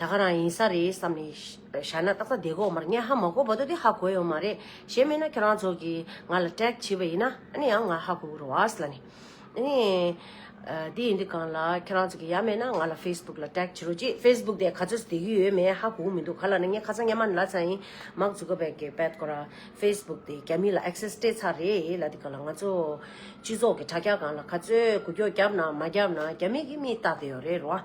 ད་ག་རང་ཡིན་ས་རེད་བསམ་ནས་བཞག་ན་ཏག་ཏག་བདེ་གོ་མ་རེད་ངས་ཧ་མ་གོ་བ་དོ་དེ་ཧ་གོ་ཡོད་མ་རེད་གཞན་མེད་ན་ཁྱོད་རང་ཚོ་གིས་ང་ལ་ཀྲེག་བྱེད་པ་ཡིན་ན་ནི་ཡང་ང་ཧ་གོ་གི་རོ་ཨཱ་སླ་ནི། ནི། དེ་ཡིན་དུས་གང་ལ་ཁྱོད་རང་ཚོ་གིས་ཡ་མེད་ན་ང་ལ Facebook ལ་ཀྲེག་བྱེད་རོགས་གྱིས Facebook དེ་ག་ཚོད་བསྡད་གི་ཡོད་མེད་ཧ་གོ་གི་མི་འདུག་ག་ལ་ནི་ངས་ཁ་ཚང་སྙན་མ་ནི་ལ་ཚང་ཡིན་མཱག་ཛུ་ཀ་བེག་གི་བེད་གོ་ར Facebook དེ་རྒྱ་མི་ལ Access སྤྲད་ཚར་རེད་ལ་དེ་ག་ལ་ང་ཚོ་སྤྱི་ཚོགས་ཀྱི་དྲ་རྒྱ་གང་ལ་ག་ཚོད་གུ་རྒྱོག་རྒྱབ་ན་མ་རྒྱབ་ན་རྒྱ་མི་གིས་མིས་བལྟ་བསྡད་ཡོད་རེད་རོ་ཨཱ།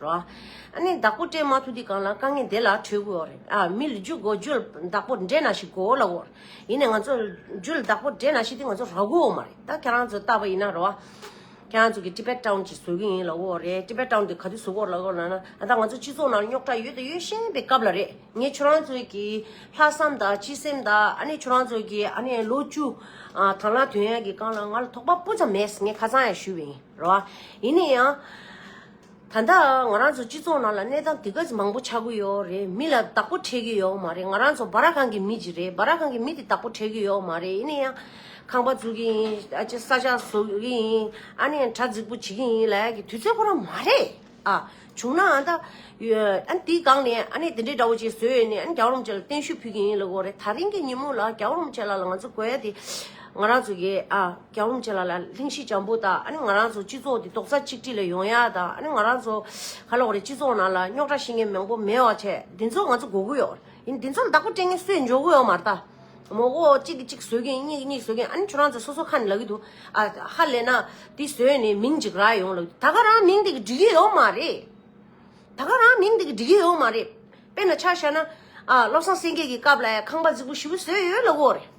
རོ། ཨ་ནི་བདག་པོ་སྤྲད་མ་ཐུབ་དུས་གང་ལ་དཀའ་ངལ་དེ་ལ་གྲོས་དགོས་རེད། ཨ་མི་ལ་རྒྱུ་དགོས་རྒྱུ་ལ་བདག་པོ་འདྲེས་ན་ཞིག་གོ་ལ་འོ། ཡིན་ནས་ང་ཚོ་རྒྱུ་ལ་བདག་པོ་འདྲེས་ན་ཞིག་དེ་ང་ཚོ་རག་གོ་འོ་མ་རེད། ད་ཁྱེད་རང་ཚོ་ལྟ་བ་ཡིན་ན་རོ། ཁྱེད་རང་ཚོ་གི་ཏི་པེ་ཀྲོན་གྱི་བཟོ་གི་ཡིན་ལ་འོ་རེད། ཏི་པེ་ཀྲོན་དེ་ག་དུས་བཟོ་གོ་ལ་འོ་ལ་ན། ད་ང་ཚོ་སྤྱི་ཚོགས་ནང་རྙོག་དྲ་ཡོད་དང་ཡོད་བཞིན་པའི་སྐབས་ལ་རེད། ངས་ཁྱོད་རང་ཚོའི་གི་ལྷག་བསམ་དང་སྤྱི་སེམས་དང་ཨ་ནི་ཁྱོད་རང་ཚོ་གི་ཨ་ནི་ལོ་བཅུ། དང་ལ་དོན་ཡག་གི་སྐང་ལ་ང་ལ་དོགས་པ་སྤུ་ཙམ་མེད་ངས་ཁ་ཚང་ཡང་ཞུས་པ་ཡིན་རོ། ཡིན་ནས་ཡང། ད་ལྟ་ང་རང་ཚོ་སྤྱི་ཚོགས་ནང་ལ་གནས་སྟངས་དེ་ག་མང་པོ་ཆགས་ཀྱི་ཡོད་རེད་མི་ལ་བདག་པོ་ཁྲེལ་གྱི་ཡོད་མ་རེད་ང་རང་ཚོ་སྦ་ར་ཁང་གི་མི་ཞིག་རེད་སྦ་ར་ཁང་གི་མི་དེ་བདག་པོ་ཁྲེལ་གྱི་ཡོད་མ་རེད་ཡིན་ན་ཡང་ཁང་པ་འཛུགས་ཀྱི་ཡིན་ཨ་ཅེ་ས་ཆ་བཟོ་གི་ཡིན་ཨ་ནེ་དྲ་རྫིག་པོ་བྱེད་ཀྱི་ཡིན་ལ་ཡ་གི་དུས་ཚོད་ཁོ་རང་མ་རེད་ཨ་བྱུང་ན་ཨ་ད་དེའི་སྒང་ནས་ཨ་ནེ་དེ་འདྲས་འདྲ་བོ་བྱེད་བཟོས་ཡོད་ནས་ཨ་ནེ་རྒྱ་རོམ་ཅེ་ལ་བརྟན་བཞུགས་ཕུལ་གྱི་ཡིན་ལ་གོ་རེད་ད་རིང་གི་ཉིན་མོ་ལ་རྒྱ་རོམ་ཅེ་ལ་ལ་ང་ཚོ་གོ་ཡ་དེ་ང་རང་ཚོ་གི་ཨ། རྒྱ་འོམ་བྱེད་ལ་ལ་ལྷིང་གཤིས་འཇམ་པོ་དང་ཨ་ནི་ང་རང་ཚོ་སྤྱི་ཚོགས་འདི་རྡོག་རྩ་གཅིག་སྒྲིལ་ལ་ཡོང་ཡ་དང་ཨ་ནི་ང་རང་ཚོ་ག་ལོག་རེད་སྤྱི་ཚོགས་ནང་ལ་རྙོག་དྲ་ཤི་ངེས་མང་པོ་མེད་བ་བྱས་འདི་ཚོ་ང་ཚོ་གོ་གི་ཡོད་ཡིན་འདི་ཚོ་བདག་པོ་སྤྲད་ངེས་སུས་འཇོག་གི་ཡོད་མ་རེད་ད་མོ་གོ་གཅིག་གིས་གཅིག་བཟོས་ཀྱིན་གཉིས་ཀྱིས་གཉིས་བཟོས་ཀྱིན་ཨ་ནི་ཁྱོད་རང་ཚོ་སོ་སོ་ཁ་ནས་ལབ་ཀྱི་འདུག་ཨ་ཧ་ལས་ན་འདི་བཟོས་ནས་མིང་འཇིགས་རག་ཡོང་ལབ་ད་ག་རང་མིང་འདི་གི་འགྲིག་གི་ཡོད་མ་རེད་ད་ག་རང་མིང་འདི་གི་འགྲིག་གི་ཡོད་མ་རེད་དཔེར་ན་ཆ་བཞག་ན་ཨ་བློ་བཟང་སེང་གེ་གི་སྐབས་ལ་ཡང་ཁང་པ་རྫིག་པོ་བཞི་པོ་བཟོས་ཡོད་ལ་གོ་རེད།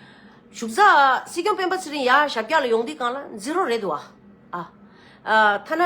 བཞུགས་ས། སྲིད་སྐྱོང་སྤེན་པ་ཚེ་རིང་ཡར་ཞབས་བཀྱག་ལ་ཡོང་དུས་གང་ལ་འཛི་རོ་རེད་འདུག་ཨ། ཨ། ཐ་ན།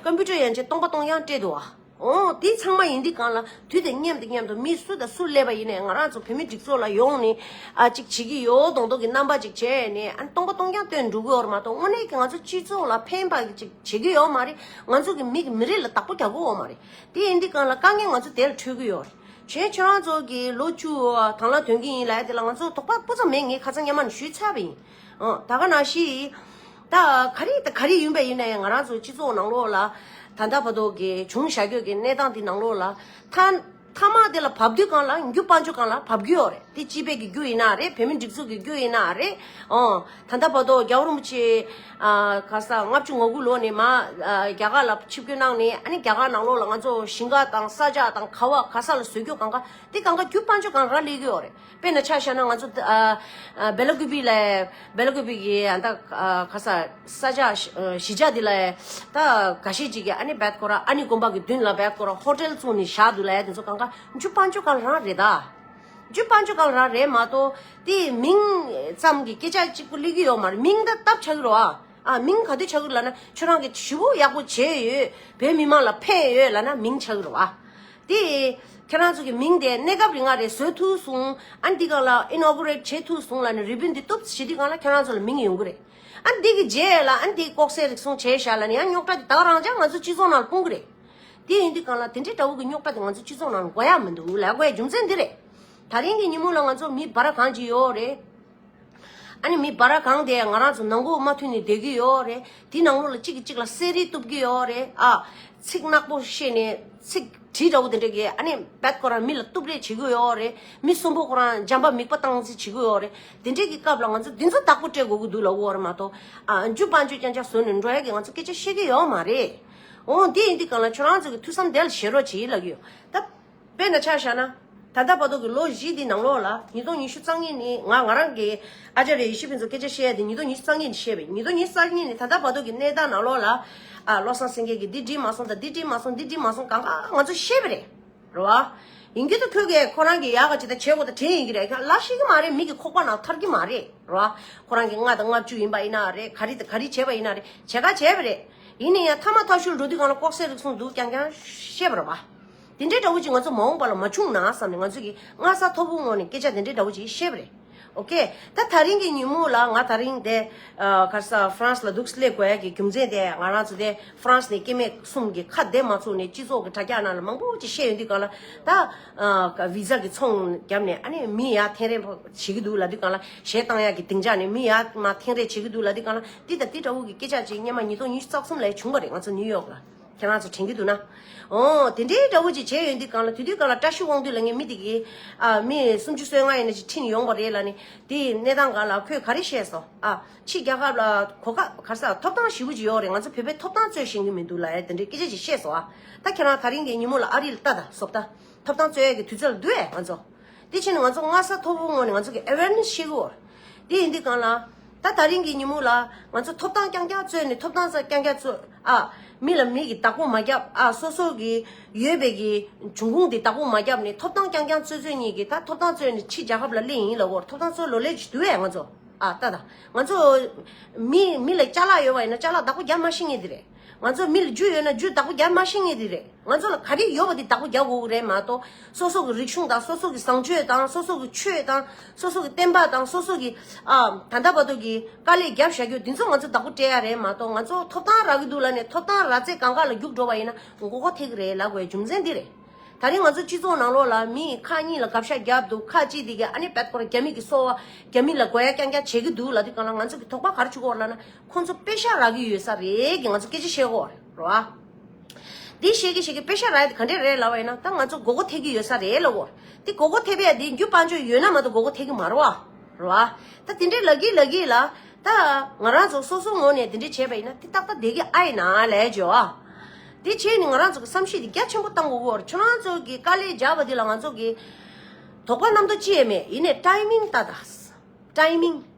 ཀ་འབུ་དྲོད་ཡན་ཆད་སྟོང་པ་སྟོང་ཡང་སྤྲད་འདུག་ཨ། ཨོ། དེ་ཚང་མ་ཡིན་དུས་གང་ལ་དུས་དེ་སྙམ་དུ་སྙམ་དུ་མི་སུ་དང་སུ་སླེབས་པ་ཡིན་ནས་ང་རང་ཚོ་བོད་མི་སྒྲིག་འཛོགས་ལ་ཡོང་ནས་ཨ་ཅིག་བྱེད་ཀྱི་ཡོད་མདོག་མདོག་གི་རྣམ་པ་ཅིག་བྱས་ནས་ཨ་སྟོང་པ་སྟོང་ཡང་སྟོན་འགྲོ་གི་ཡོད་མ་གཏོགས་དངོས་གནས་ཀྱི་ང་ཚོ་སྤྱི་ཚོགས་ལ་ཕན་པ་ཅིག་བྱེད་ཀྱི་ཡོད་མ་རེད་ང་ཚོ་གི་མི་གི་མི་རིགས་ལ་བདག་པོ་རྒྱག་གི་ཡོད་མ་རེད་དེ་ཡིན་དུས་གང་ལ་དཀའ་ངལ་ང་ཚོ་དེ་ལ་འཕྲོད་ཀྱི་ཡོད་རེད་བྱས་ཆོས་མང་ཚོགས་ཀྱིས་ལོ་བཅུ་གང་ལ་དོན་གྱི་ཡིན་ལས་དེ་ལ་ང་ཚོ་དོགས་པ་སྤུ་ཙམ་མེད་ངས་ཁ་ཚ་དམྱལ་མར་ཞུས་ཚར་བ་ཡིན། ད་ག་ན་ཞིག་ད་ག་རེ་ད་ག་རེ་ཡིན་པ་ཡིན་ནའི་ང་རང་ཚོ་སྤྱི་ཚོགས་ནང་ལོགས་ལ་ད་ལྟ་བར་དོ་གལ་བྱུང་བྱ་རྒྱུ་གི་གནས་སྟངས་འདི་ནང་ལོགས་ལ་ཐ་ཐ་མག་དེ་ལ་བབ་དུས་གང་ལ་འགྱུ་དཔའ་འཇུ་གང་ལ་བབ་རྒྱུ་ཡོག་རེད་དེ་སྤྱི་པའི་གི་རྒྱུ་ཡིན་ན་རེད་བོད་མི་སྒྲིག་འཛུགས་ཀྱི་རྒྱུ་ཡིན་ན་རེད། ད་ལྟ་བར་དུ་རྒྱ་བོད་རིན་པོ་ཆེ། ག་ས་ལྔ་བཅུ་ང་དགུ་ལོ་ནས་མ། རྒྱ་གར་ལ་ཆིབས་བསྐྱོད་གནང་ནས་ཨ་ནི་རྒྱ་གར་ནང་ལོགས་ལ་ང་ཚོ་ཞིང་ཁ་དང་ས་ཆ་དང་ཁ་བ་ག་ས་ལ་བཟོས་རྒྱུ་གང་ག་དེ་གང་ག་རྒྱུ་དཔང་ཆོ་གང་རག་ལས་གི་ཨོ་རེད་དཔེར་ན་ཆ་བཞག་ན་ང་ཚོ། སྦེ་ལ་ཀུ་པི་ལ། སྦེ་ལ་ཀུ་པི་གི་ཨ་ད་ག་ས་ས་ཆ་གཞིས་ཆགས་དེ་ལ། ད་ག་ཤེད་ཅིག་གི་ཨ་ནི་བད་ཀོ་ར་ཨ་ནི་དགོན་པ་གི་མདུན་ལ་བད་ཀོ་ར་ཧོ་ཏེལ་བཙུགས་ནས་བཞག་འདུག་ལ་དེ་ཚོ་གང་ག་རྒྱུ་དཔང་ཆོ་གང་རག་རེད་ད། རྒྱུད་པ་འཇུག་གང་རག་རེད་མ་གཏོགས་དེ་མིང་ཙམ་གྱི་སྐད་ཆ་གཅིག་པུ་གླེགས་རྒྱུ་ཡོག་མ་རེད་མིང་ད་སྟབས་ཆགས་ཀྱི་རོ་ཨ་མིང་ག་དུས་ཆགས་ཀྱི་ལ་ན་ཁྱོད་རང་གིས་ཞུ་བོ་ཡག་པོ་བྱས་ཡོད་བོད་མི་མང་ལ་ཕན་ཡོད་ལ་ན་མིང་ཆགས་ཀྱི་རོ་ཨ་དེ་ཁྱེད་རང་ཚོ་གི་མིང་དེ་གནས་སྐབས་རི་ང་རེ་བཟོས་ཐུག་སོང་ཨ་འདི་གང་ལ Inaugurate བྱས་ཐུག་སོང་ལ་ན་རི་བོད་འདི་གཏུབ་བྱེད་དུས་གང་ལ་ཁྱེད་རང་ཚོ་ལ་མིང་ཡོང་གི་རེད་ཨ་འདི་གི་རྗེས་ལ་ཨ་འདི་ལྐོག་ཟས་རིགས་སོང་བྱས་ཤག་ལ་ན་ཡང་རྙོག་དྲ་དེ་དག་རང་ཅག་ང་ཚོ་སྤྱི་ཚོགས་ནང་ལ་སྤུངས་ཀྱི་རེད། དེ་ཡིན་དུས་གང་ལ་དེ་འདྲའི་དགྲ་བོ་གི་རྙོག་དྲ་དེ་ང་ཚོའི་སྤྱི་ཚོགས་ནང་འགོ་ཡ་མི་འདུག་ལས་འགོ་ཡ་རྒྱུ་མཚན་འདི་རེད། ད་རིང་གི་ཉིན་མོ་ལ་ང་ཚོ་མི་འབའ་ར་གང་ཅི་ཡོད་རེད། ཨ་ནི་མི་འབའ་ར་གང་དེ་ང་རང་ཚོ་ནང་འགོ་མ་མཐུན་ནས་སྡོད་ཀྱི་ཡོད་རེད། དེ་ནང་ལོགས་ལ་གཅིག་གིས་གཅིག་ལ་གསལ་རིས་གཏུབ་ཀྱི་ཡོད་རེད་ཨ། ཚིག་ནག་པོ་བཤད་ནས་ཚིག་དྲི་དགྲ་བོ་དེ་འདྲ་གིས་ཨ་ནི་བད་ཁོ་རང་མི་ལ་གཏུབ་རེས་བྱེད་ཀྱི་ཡོད་རེད། མི་གསོན་པོ་ཁོ་རང་འཇམ་པ་མིག་པ་བཏང་རྩིས་བྱེད་ཀྱི་ཡོད་རེད། དེ་འདྲས་ཀྱི་སྐབས་ལ་ང་ཚོ་འདི་ཚོ་བདག་པོ་སྤྲད་དགོས་ཀྱི་འདུག་ལ་འོ་རེད་མ་གཏོགས། ཨ་འཇུ་དཔའ་འཇུ་རྐྱང་རྐྱང་བཟོས་ནས་འགྲོ་ཡ་གི་ང་ཚོ་སྐད་ཆ་བཤད་ཀྱི་ཡོད་མ་རེད། འོ་འདི་ཡིན་འདི་གང་ལ་ཁྱོད་རང་ཚོ་གི་ཐུགས་བསམ་དལ་བྱེད་རོགས་བྱེད་ཡིད་ལ་གཡོ། ད། དཔེ་འདྲ་ཆགས་བཞག་ན། ད་ལྟ་བར་དོ་གི་ལོ་བཞི་འདི་ནང་ལོགས་ལ་ཉིས་སྟོང་ཉི་ཤུ་རྩ་གཉིས་ནི་ང་ང་རང་གི། ཨ་ཅཱ་རེ་ཡེ་ཤེས་ཕུན་ཚོགས་སྐད་ཆ་བཤད་ཡ་དེ་ཉིས་སྟོང་ཉི་ཤུ་རྩ་གཉིས་ནི་བཤད་པས་ཉིས་སྟོང་ཉི་ཤུ་རྩ་གཉིས་ནི་ད་ལྟ་བར་དོ་གི་གནས་སྟངས་ནང་ལོགས་ལ། ཨ། བློ་བཟང་སེང་གེ་གིས་འདི་བྲིས་མ་སོང་དང་འདི་བྲིས་མ་སོང་འདི་བྲིས་མ་སོང་གང་གང་ང་ཚོ་ཤེས་པས་རེད། རེད་བ། ཡིན་གྱི་འདུག་ཁྱོད་ཀྱི་ཁོ་རང་གི་ཡག་ག་ཇི་ལྟར་བྱེད་དགོས་ད་དྲན་ཡིན་གྱི་རེད་ཁྱོད་ལ་ཤེས་ཀྱི་མ་རེད་མིག་གི་ཁོག་པ་ན་ཐར་གྱི་མ་རེད། རེད་བ། ཁོ་རང་གི་ལྔ་དང་ལྔ་བཅུ་ཡིན་པ་ཡིན་ན་རེད་ག་རེ་དང་ག་རེ་བྱས་པ་ཡིན་ན་རེད་བྱས་ག་བྱས་པས་རེད། ཡིན་ན་ཡང་ཐ་མ་ཐག་ཤུར་འགྲོ་དུས་གང་ལ་ལྐོག་ཟས་རིགས་གསུངས་འདུག་ཀྱང་ཀྱང་ཤེས་པར་བ། དེ་འདྲའི་དགྲ་བོ་ཅིག་ང་ཚོ་མ་འོངས་པ་ལ་མ་བྱུང་ན་བསམ་ནས་ང་ཚོ་གིས་སྔ་ས་ཐོར་བུ་བསྔོགས་ནས་སྐད་ཆ་དེ་འདྲའི་དགྲ་བོ་ཅིག་བཤད་པ་རེད། ཨོ་ཁེ། ད་ཐག་རིང་གི་ཉིན་མོ་ལ་ང་ད་རིང་དེ། གར་ས France ལ་འདུག་སི་ལེ་ཀོ་ཡ་གི་རྒྱུ་མཚན་དེ་ང་རང་ཚོ་དེ France ནས་སྐྱེ་མེད་གསུམ་གྱི་ཁ་བདེ་མ་ཚུགས་ནས་སྤྱི་ཚོགས་ཀྱི་དྲ་རྒྱ་ནང་ལ་མང་པོ་ཅིག་བཤད་ཡོང་དུས་གང་ལ་ད། Visa གི་ཚོང་བརྒྱབ་ནས་ཨ་ནི་མི་ཡག་ཐེངས་རེ་བྱེད་ཀྱི་འདུག་ལ་དུས་གང་ལ་ཞལ་གཏང་ཡག་གི་གདེང་འཇགས་ནས་མི་ཡག་མ་ཐེངས་རེ་བྱེད་ཀྱི་འདུག་ལ་དུས་གང་ལ་འདི་དང་འདི་འདྲ་བོ་གི་སྐད་ཆ་ཅིག་སྙེ་མ་ཉིས་སྟོང་ཉི་ཤུ་རྩ་གསུམ་ལ་བྱུང་བ་རེད་ང་ཚོ་ནིའུ་ཡོག་ལ་ཁྱེད་རང་ཚོ་དྲན་གྱི་འདུག་ན། འོ། དེ་འདྲའི་འདྲ་བོ་ཅིག་བྱས་ཡོད་འདི་གང་ལ་དུས་དུས་གང་ལ་བཀྲ་ཤིས་དབང་འདུས་ལ་ངས་མི་དེ་གའི། ཨ། མི་སུམ་ཅུ་སོའི་ང་ཡིན་ན་ཅིག་ཁྲིད་ནས་ཡོང་བ་རེད་ལ་ནི། དེ་ཡི་གནས་སྟངས་ག་ལ་ཁོས་ག་རེ་བཤད་སོང་ཨ། ཕྱི་རྒྱ་གར་ལ་གོ་ཁ་གར་ས་ཐོབ་ཐང་ཞིབ་པོ་ཅིག་ཡོད་རེད་ང་ཚོ་བོད་པའི་ཐོབ་ཐང་རྩོད་བཞིན་གྱི་མི་འདུག་ལ་ཡ་དེ་འདྲའི་སྐད་ཆ་ཅིག་བཤད་སོང་ཨ། ད་ཁྱེད་རང་ད་རིང་གི་ཉིན་མོ་ལ་ཨ་རི་ལ་ལྟ་ད་སོབ་ད། ཐོབ་ཐང་རྩོད་ཡ་གི་དུས་ཚོད་ལ་འདུག་ཨེ་ང་ཚོ། དེ་བཞིན་ང་ཚོ་སྔ་ས་མཐོ་པོའི་ངོས་ནས་ང་ཚོ་གི awareness ཤེས་དགོས། དེ་ཡིན་དུས་གང་ལ། ད་ད་རིང་གི་ཉིན་མོ་ལ། ང་ཚོ་ཐོབ་ཐང་རྐྱང་རྐྱང་རྩོད་ནས་ཐོབ་ཐང་ས་རྐྱང་རྐྱང་རྩོད། ཨ། མི་ལ་མི་གི་བདག་པོ་མ་རྒྱབ། ཨ། སོ་སོ་གི་ཡོད་པའི་གི་འབྱུང་ཁུངས་དེ་བདག་པོ་མ་རྒྱབ་ནས་ཐོབ་ཐང་རྐྱང་རྐྱང་རྩོད་རྩོད་གཉིས་ཀྱི་ད་ཐོབ་ཐང་རྩོད་ནས་ཕྱི་རྒྱལ་ཁབ་ལ་གླེང་ཡིན་ལ་འོར་ཐོབ་ཐང་རྩོད་ལོ་ལེགས་ཀྱི་དུས་བས་ང་ཚོ་ཨ་ད་ད། ང་ཚོ། མི་མི་ལ་བསྐྱར་ལག་ཡོད་པ་ཡིན་ན་བསྐྱར་ལག་བདག་པོ་རྒྱབ་མ་ཤེས་ངེས་དེ་རེད། ང་ཚོར་མི་ལ་རྒྱུ་ཡོད་ན་རྒྱུའི་བདག་པོ་རྒྱ་དམར་ཤེས་ངེས་དེ་རེད། ང་ཚོ་ལ་ག་རེ་ཡོད་པ་དེ་བདག་པོ་རྒྱག་དགོས་ཀྱི་རེད་མ་གཏོགས་སོ་སོ་གི་རིག་གཞུང་དང་སོ་སོ་གི་བཟང་སྤྱོད་དང་སོ་སོ་གི་ཆོས་དང་སོ་སོ་གི་བསྟན་པ་དང་སོ་སོ་གི་ད་ལྟ་བར་དུ་གི་དཀའ་ལས་བརྒྱབ་བཞག་རྒྱུ་དེ་ཚོ་ང་ཚོ་བདག་པོ་སྤྲད་ཡ་རེད་མ་གཏོགས་ང་ཚོ་ཐོབ་ཐང་རག་གི་འདུག་ལ་ནས་ཐོབ་ཐང་རག་ཚེ་གང་དགའ་ལ་རྒྱུགས་འགྲོ་བ་ཡིན་ན་མགོ་ཁོག་ཐེག་གི་རེད་ལབ་དགོས་རྒྱུ་མཚན་འདི་རེད། ད་རིང་ང་ཚོ་སྤྱི་ཚོགས་ནང་ལོགས་ལ་མི་ཁག་གཉིས་ལ་གབ་ཤ་བརྒྱབ་འདུག་ཁག་གཅིག་དེ་གི་ཨ་ནེ་བལ་སྐོར་རྒྱ་མི་གི་སོ་བ་རྒྱ་མི་ལ་དགོ་ཡ་རྐྱང་རྐྱང་བྱེད་གི་འདུག་ལ་དེ་གང་ལ་ང་ཚོ་གི་དོགས་པ་ག་རེ་བྱུག་གོ་ལ་ན་ཁོང་ཚོ་དཔེ་ཤ་རག་གི་ཡོད་ས་རེད་གི་ང་ཚོ་སྐད་ཆ་བཤད་གོ་རོ་ཨ། འདི་བཤད་གི་བཤད་གི་དཔེ་ཤ་རག་ག་འདྲས་རེད་ལབ་བ་ཡིན་ན་ད་ང་ཚོ་དགོ་དགོ་ཐེག་གི་ཡོད་ས་རེད་ལབ་བོ། དེ་དགོ་དགོ་ཐེག་པའི་དེ་རྒྱུ་དཔང་ཆོས་ཡོད་ན་མ་གཏོགས་དགོ་དགོ་ཐེག་གི་མ་རོ་ཨ་རོ་ཨ། ད་དེ་འདྲས་ལབ་གི་ལབ་གི་ལ་ད་ང་རང་ཚོ་སོ་སོ་ངོ་ནས་དེ་འདྲས་བྱས་པ་ཡིན་ན་དེ་ཏག་ཏག་བསྡད་གི་ཨ་ཡིན་ན་ལས་ཇོ་ཨ། དེ་བྱས་ནས་ང་རང་ཚོ་གི་བསམ་ཤེས་དེ་རྒྱ་ཆེན་པོ་བཏང་དགོ་བོར་ཁྱོད་རང་ཚོ་གི་དཀའ་ལས་རྒྱག་པ་དེ་ལ་ང་ཚོ་གི་དོགས་པ་རྣམ་དག་ཅི་ཡས་མེད་ཡིན་ནས་ཏྲའི་མིང་ཏ་ཏས་ཏྲའི་མིང།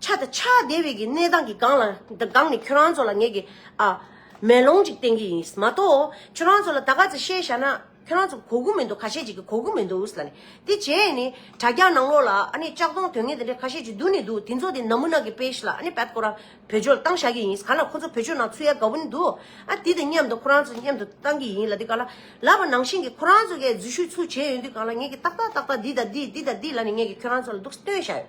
ཆ་དང་ཆ་དེ་བས་ཀྱི་གནས་སྟངས་ཀྱི་སྒང་ལ་སྒང་ནས་ཁྱོད་རང་ཚོ་ལ་ངས་ཀྱི་ཨ། མེ་ལོང་ཅིག་བསྟན་གྱི་ཡིན། མ་གཏོགས་ཁྱོད་རང་ཚོ་ལ་ད་ག་ཚོད་བཤད་བཞག་ན་ཁྱོད་རང་ཚོ་གོ་དགོས་མི་འདུག་ཁ་ཤས་ཅིག་གིས་གོ་དགོས་མི་འདུག་ལ་ནི། དེ་རྗེས་ནི་དྲ་རྒྱ་ནང་ལོགས་ལ་ཨ་ནི་ལྕགས་སྡོང་དོན་ངན་དེ་འདྲས་ཁ་ཤས་ཅིག་འདུག་ནི་འདུག་དེ་ཚོ་དེ་ནག་མུ་ནག་གི་དཔེ་ཞིག་ལ་ཨ་ནི་བད་ཁོ་རང་བོད་ཆོལ་བཏང་བཞག་གི་ཡིན་ག་ལ་ཁོ་ཚོ་བོད་ཆོལ་ནང་ཚུད་ཡ་དགའ་བོ་ནི་འདུག་ཨ་དེ་དང་མཉམ་དུ་ཁོ་རང་ཚོ་མཉམ་དུ་བཏང་གི་ཡིན་ལ་དེ་ག་ལ། ལབ་པ་ནང་བཞིན་གྱི་ཁོ་རང་ཚོ་གས་འཛུལ་ཞུགས་ཚུལ་བྱས་ཡོད་དུས་གང་ལ་ངས་ཀྱི་ཏག་ཏག་ཏག་ཏག་འདི་དང་འདི་འདི་དང་འདི་ལ་ནི་ངས་ཀྱི་ཁྱོད་རང་ཚོ་ལ་འདུག་སྟོན་བཞག་ཡོད།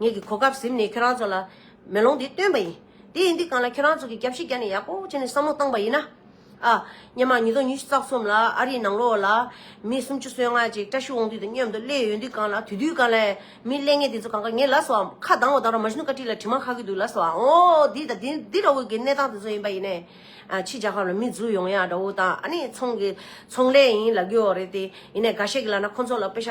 ངེད་ཀྱི་གོ་སྐབས་གཟིམས་ནས་ཁྱོད་རང་ཚོ་ལ་མེ་ལོང་འདི་སྟོན་པ་ཡིན། དེ་ཡིན་དུས་གང་ལ་ཁྱོད་རང་ཚོ་གིས་རྒྱབ་ཤི་བརྒྱབ་ནས་ཡག་པོ་བྱས་ནས་བསམ་བློ་བཏང་པ་ཡིན་ན། ཨ། སྙེ་མ་ཉིས་སྟོང་ཉི་ཤུ་རྩ་གསུམ་ལ་ཨ་རིའི་ནང་ལོགས་ལ། མི་སུམ་ཅུ་སོ་ལྔ་ཅིག་བཀྲ་ཤིས་དབང་འདུས་དང་མཉམ་དུ་སླེབས་ཡོད་དུས་གང་ལ་དུས་དུས་གང་ལ། མི་ཀླད་ངན་དེ་ཚོ་གང་གཱ་ངན་ལ་སོའམ་ཁ་གདངས་བ་དང་ར་མ་ཤུན་བཀའ་ཁྲི་ལ་དྲི་མ་ཁ་གི་འདུག་ལ་སོའམ་ཨོ་འདི་དང་འདི་འདི་འདྲ་བོ་གི་གནས་སྟངས་དེ་ཚོ་ཡིན་པ་ཡིན་ནས། ཕྱི་རྒྱལ་ཁབ་ལ་མི་འཛུལ་ཡོང་ཡ་འདྲ་བོ་དང་ཨ་ནི་ཚོང་གི་ཚོང་ལས་ཡིན་ལ་རྒྱུ་བ་རེད་དེ། ཡིན་ནས་འགའ་ཤས་ཀྱི་ལག་ན་ཁོ་ཚོ་ལ་དཔེ་ཆ།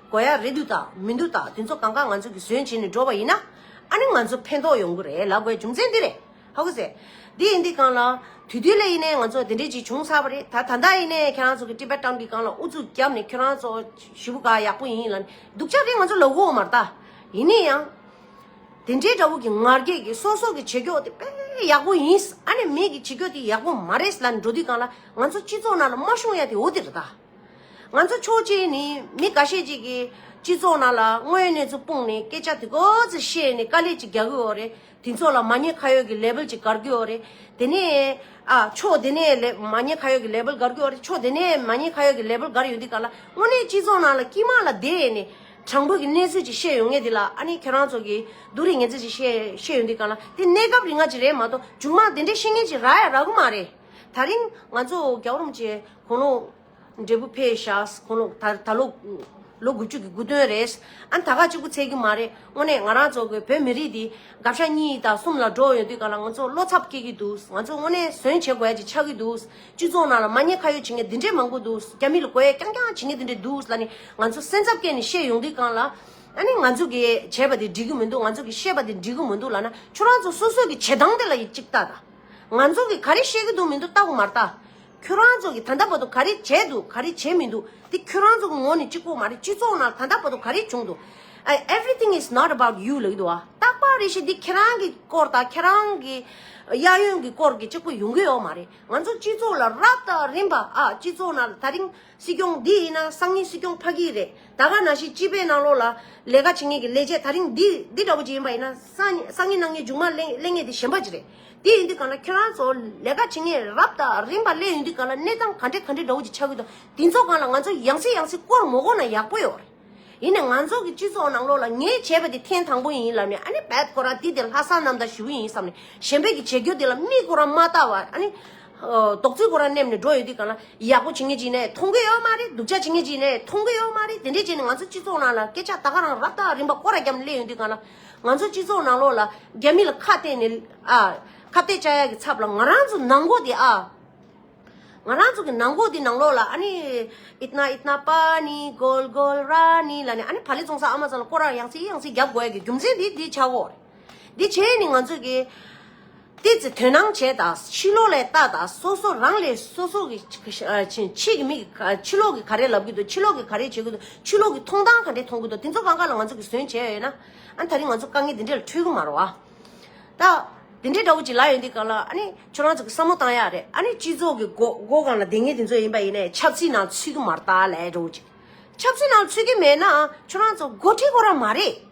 དགོས་ཡ་རེད་འདུག་ད་མི་འདུག་ད་དེ་ཚོ་གང་གང་ང་ཚོ་གིས་ཟོན་བྱས་ནས་འགྲོ་བ་ཡིན་ན་ཨ་ནི་ང་ཚོ་ཕན་ཐོག་ཡོང་གི་རེད་ལ་དགོས་རྒྱུ་མཚན་འདི་རེད་ཧ་གོ་ཟེ། འདི་ཡིན་འདི་གང་ལ། དུས་དུས་ལ་ཡིན་ནའི་ང་ཚོ་དེ་འདྲས་ཅིག་བྱུང་ཚར་བ་རེད་ད་ད་ལྟ་ཡིན་ནའི་ཁྱེད་རང་ཚོ་གི Tibetan གི་གང་ལ་ཨུ་ཚུགས་རྒྱབ་ནས་ཁྱོད་རང་ཚོ་ཞི་བུ་ག་ཡག་པོ་ཡིན་ལ་ནི་སྡུག་ཅག་དེ་ང་ཚོ་ལ་འོ་མ་རེད་ད། ཡིན་ནའི་ཡང། དེ་འདྲས་འདྲ་བོ་གི་ངར་སྐད་གི་སོ་སོ་གི་བྱེད་སྐྱོག་དེ་དཔེ་ཡག་པོ་ཡིན། ཨ་ནི་མེད་གི་བྱེད་སྐྱོག་དེ་ཡག་པོ་མ་རེད་ལ་ནི་འགྲོ་དུས་གང་ལ་ང་ཚོ་སྤྱི་ཚོགས་ནང་ལ་དམར་གཞུང་ཡ་དེ་འོ་དེ་རེད་ད། ང་ཚོ་ཆོས་བྱེད་ནི་མི་འགའ་ཤས་ཅིག་གིས་སྤྱི་ཚོགས་ནང་ལ་དངོས་གནས་ཚོ་སྤུངས་ནས་སྐད་ཆ་དེ་ཀོ་ཚེ་བཤད་ནས་དཀའ་ལས་ཅིག་རྒྱག་གི་འོ་རེད་དེ་ཚོ་ལ་མ་ཉེས་ཁ་ཡོད་ཀྱི་ལེབལ་ཅིག་དགར་གྱི་འོ་རེད་དེ་ནས་ཨ་ཕྱོགས་དེ་ནས་ལེ་མ་ཉེས་ཁ་ཡོད་ཀྱི་ལེབལ་དགར་གྱི་འོ་རེད་ཕྱོགས་དེ་ནས་མ་ཉེས་ཁ་ཡོད་ཀྱི་ལེབལ་དགར་ཡོང་དུས་ག་ལ་དངོས་གནས་སྤྱི་ཚོགས་ནང་ལ་དཀྱིས་མ་ལ་བསྡད་ནས་དྲང་པོ་གི་གནས་ཚུལ་ཅིག་བཤད་ཡོང་ངེས་དེ་ལ་ཨ་ནི་ཁྱོད་རང་ཚོ་གིས་སྡུག་རེ་ངེས་ཚུལ་ཅིག་བཤད་བཤད་ཡོང་དུས་ག་ལ་དེ་གནས་སྐབས་རིང་ང་ཅིག་རེད་མ་གཏོགས་མཇུག་མ་དེ་འདྲའི་ཤེས་ངེས་ཅིག་རག་ཡ་རག་གི་མ་རེད་ད་རིང་ང་ཚོ་རྒྱ་གོར་མོ་ཆེ། གོང་ལོག། འབྲས་བུ་ཕལ་བཞག་གོང་ལོག་ད་ད་ལོ། ལོ་དགུ་བཅུ་གི་དགུ་སྟོན་རེད། ཨ་ད་ག་གཅིག་པུ་འཚལ་རྒྱུ་མ་རེད་དངོས་གནས་ང་རང་ཚོ་གི་བོད་མི་རིགས་འདི་དགའ་ཕྱག་གཉིས་དང་གསུམ་ལ་འགྲོ་ཡོང་དུས་ག་ལ་ང་ཚོ་བློ་འཚབ་སྐྱེ་གི་འདུག་ང་ཚོ་དངོས་གནས་ཟོན་བྱེད་དགོས་ཀྱི་ཆགས་ཀྱི་འདུག་སྤྱི་ཚོགས་ནང་ལ་མ་ཉེས་ཁ་ཡོད་བྱེད་མཁན་འདི་འདྲའི་མང་པོ་འདུག་རྒྱ་མི་ལ་རྒོལ་ཡ་རྐྱང་རྐྱང་བྱེད་མཁན་འདི་འདྲའི་འདུག་ལ་ནི་ང་ཚོ་སེམས་འཚབ་སྐྱེས་ནས་བཤད་ཡོང་དུས་གང་ལ་ཨ་ནི་ང་ཚོ་གི་བྱས་པ་དེ་འགྲིག་གི་མི་འདུག་ང་ཚོ་གི་བཤད་པ་དེ་འགྲིག་གི་མི་འདུག་ལ་ན་ཁྱོད་རང་ཚོ་སོ་སོ་གི་བྱེད་སྟངས་དེ་ལ་ཡི་གཅིག་ལྟ་ད། ང་ཚོ་གི་ག་རེ་བཤད་ཀྱི་འདུག་མི་འདུག་ལྟ་གོ་མར་ལྟ། ཁྱོད་རང་ཚོ་གིས་ད་ལྟ་བར་དུ་ག་རེ་བྱས་འདུག་ག་རེ་བྱས་མི་འདུག་དེ་ཁྱོད་རང་ཚོ་གི་ངོ་ནས་གཅིག་པོ་མ་རེད་སྤྱི་ཚོགས་ནང་ད་ལྟ་བར་དུ་ག་རེ་བྱུང་འདུག Everything is not about you ལ་གི་འདུག་བ་རྟག་པ་རེ་ཞིག་འདི་ཁྱེད་རང་གི་སྐོར་དང་ཁྱེད་རང་གི་གཡས་གཡོན་གྱི་སྐོར་གྱི་གཅིག་པོ་ཡོང་གི་ཡོད་མ་རེད་ང་ཚོ་སྤྱི་ཚོགས་ལ་རབ་དང་རིམ་པ་ཨ་སྤྱི་ཚོགས་ནང་ད་རིང་སྲིད་སྐྱོང་འདི་ཡིན་ན་སང་ཉིན་སྲིད་སྐྱོང་ཕ་གི་རེད་ད་ག་ན་ཞིག་སྤྱི་པའི་ནང་ལོགས་ལ་ལས་ཀ་བྱེད་ངེས་ཀྱི་ལས་བྱེད་ད་རིང་འདི་འདི་འདྲ་བོ་ཅིག་ཡིན་པ་ཡིན་ན་སང་ཉིན་སང་ཉིན་གནང་ངེས་མཇུག་མ་གླེང་ངེས་དེ་གཞན་པ་ཅིག་རེད། དེ་ཡིན་དུས་ག་ན་ཁྱོད་རང་ཚོ་ལས་ཀ་བྱེད་ངེས་རབས་ད་རིམ་པ་སླེ་ཡོང་དུས་ག་ན་གནས་སྟངས་ག་འདྲེ་ག་འདྲེ་འདྲ་བོ་ཅིག་ཆགས་ཀྱི་འདུག་དེ་ཚོ་གང་ལ་ང་ཚོ་ཡང་སྲིད་ཡང་སྲིད་བསྐོར་མོ་བསྐོར་ན་ཡག་པོ་ཡོད་རེད་ཡིན་ནས་ང་ཚོ་གི་སྤྱི་ཚོགས་ནང་ལོགས་ལ་ངས་བྱས་པ་དེ་ཐེངས་དང་པོ་ཡིན་ལབ་ནས་ཨ་ནི་བད་ཀོ་ར་འདི་དེ་ལྷ་ས་ནམ་ཟླ་བཞི་བོ་ཡིན་བསམ་ནས་གཞན་ཕན་གི་བྱེད་རྒྱུ་དེ་ལ་མིག་ཀོ་ར་མ་བལྟ་བར་ཨ་ནི། རྡོག་རྫིས་ཀོ་ར་སྣེམས་ནས་འགྲོ་ཡོད་དུས་ག་ན་ཡག་པོ་བྱེད་ངེས་ཅིག་ནས་མཐོང་གི་ཡོད་མ་རེད་སྡུག་ཅག་བྱེད་ངེས་ཅིག་ནས་མཐོང་གི་ཡོད་མ་རེད་དེ་འདྲས་བྱས་ནས་ང་ཚོ་སྤྱི་ཚོགས་ནང་ལ་སྐད་ཆ་ད་ག་རང་རབས་ད་རིམ་པ་བསྐོར་ར་རྒྱབ་ནས་སླེ་ཡོང་དུས་ག་ན། ང་ཚོའི་སྤྱི་ཚོགས་ནང་ལོགས་ལ་རྒྱ་མི་ལ་ཁ་གཏད་ནས། ཁ་གཏད་བཅའ་ཡག་གི་ཚབ་ལ་ང་རང་ཚོ་ནང་མགོ་དེ་ཨ། ང་རང་ཚོ་གི་ནང་མགོ་དེ་ནང་ལོགས་ལ་ཨ་ནི། ཨིཏན་ཨིཏན་པ་ནི་གོལ་གོལ་ར་ནི་ལ་ནི་ཨ་ནི་བ་ལི་བཙོང་ས་ཨ་མ་ཙང་ལ་སྐོར་ར་ཡང་སྲིད་ཡང་སྲིད་རྒྱབ་དགོས་ཡག་གི་རྒྱུ་མཚན་དེ་དེ་ཆགས་འོག་རེད། དེ་བྱས་ནས་ང་ཚོས་ཀྱི། དེ་ཚོས་དོན་སྣང་བྱས་དང་ཕྱི་ལོག་ལས་བལྟ་དང་སོ་སོ་རང་ལས་སོ་སོ་གི་ཕྱི་གི་མིག་གིས་ཕྱི་ལོག་གི་ག་རེ་ལབ་གི་འདུག་ཕྱི་ལོག་གི་ག་རེ་བྱེད་གི་འདུག་ཕྱི་ལོག་གི་མཐོང་སྟངས་ག་འདྲེ་མཐོང་གི་འདུག་དེ་ཚོ་གང་ག་ལ་ང་ཚོ་གིས་ཟོན་བྱས་ཡོད་ན་ཨ་ད་རིང་ང་ཚོ་དཀའ་ངལ་དེ་འདྲེ་ལ་འཕྲོད་གི་མ་རོ་བ། ད་དེ་འདྲེ་འདྲ་བོ་ཅིག་ལ་ཡོད་འདི་ག་ལ་ཨ་ནི་ཁྱོད་རང་ཚོ་གིས་བསམ་བློ་བཏང་ཡག་རེད་ཨ་ནི་སྤྱི་ཚོགས་གི་འགོ་འགོ་གང་ལ་ལྡེང་ངེས་དེ་ཚོ་ཡིན་པ་ཡིན་ནའི་ཆབ་སྲིད་ནང་ཚུད་གི་མ་ར་ད་ལས་འགྲོ་བོ་ཅིག་ཆབ་སྲིད་ནང་ཚུད་གི་མེད་ན་ཁྱོད་རང་ཚོ་འགོ་ཁྲིད་གོ་ར་མ་རེད།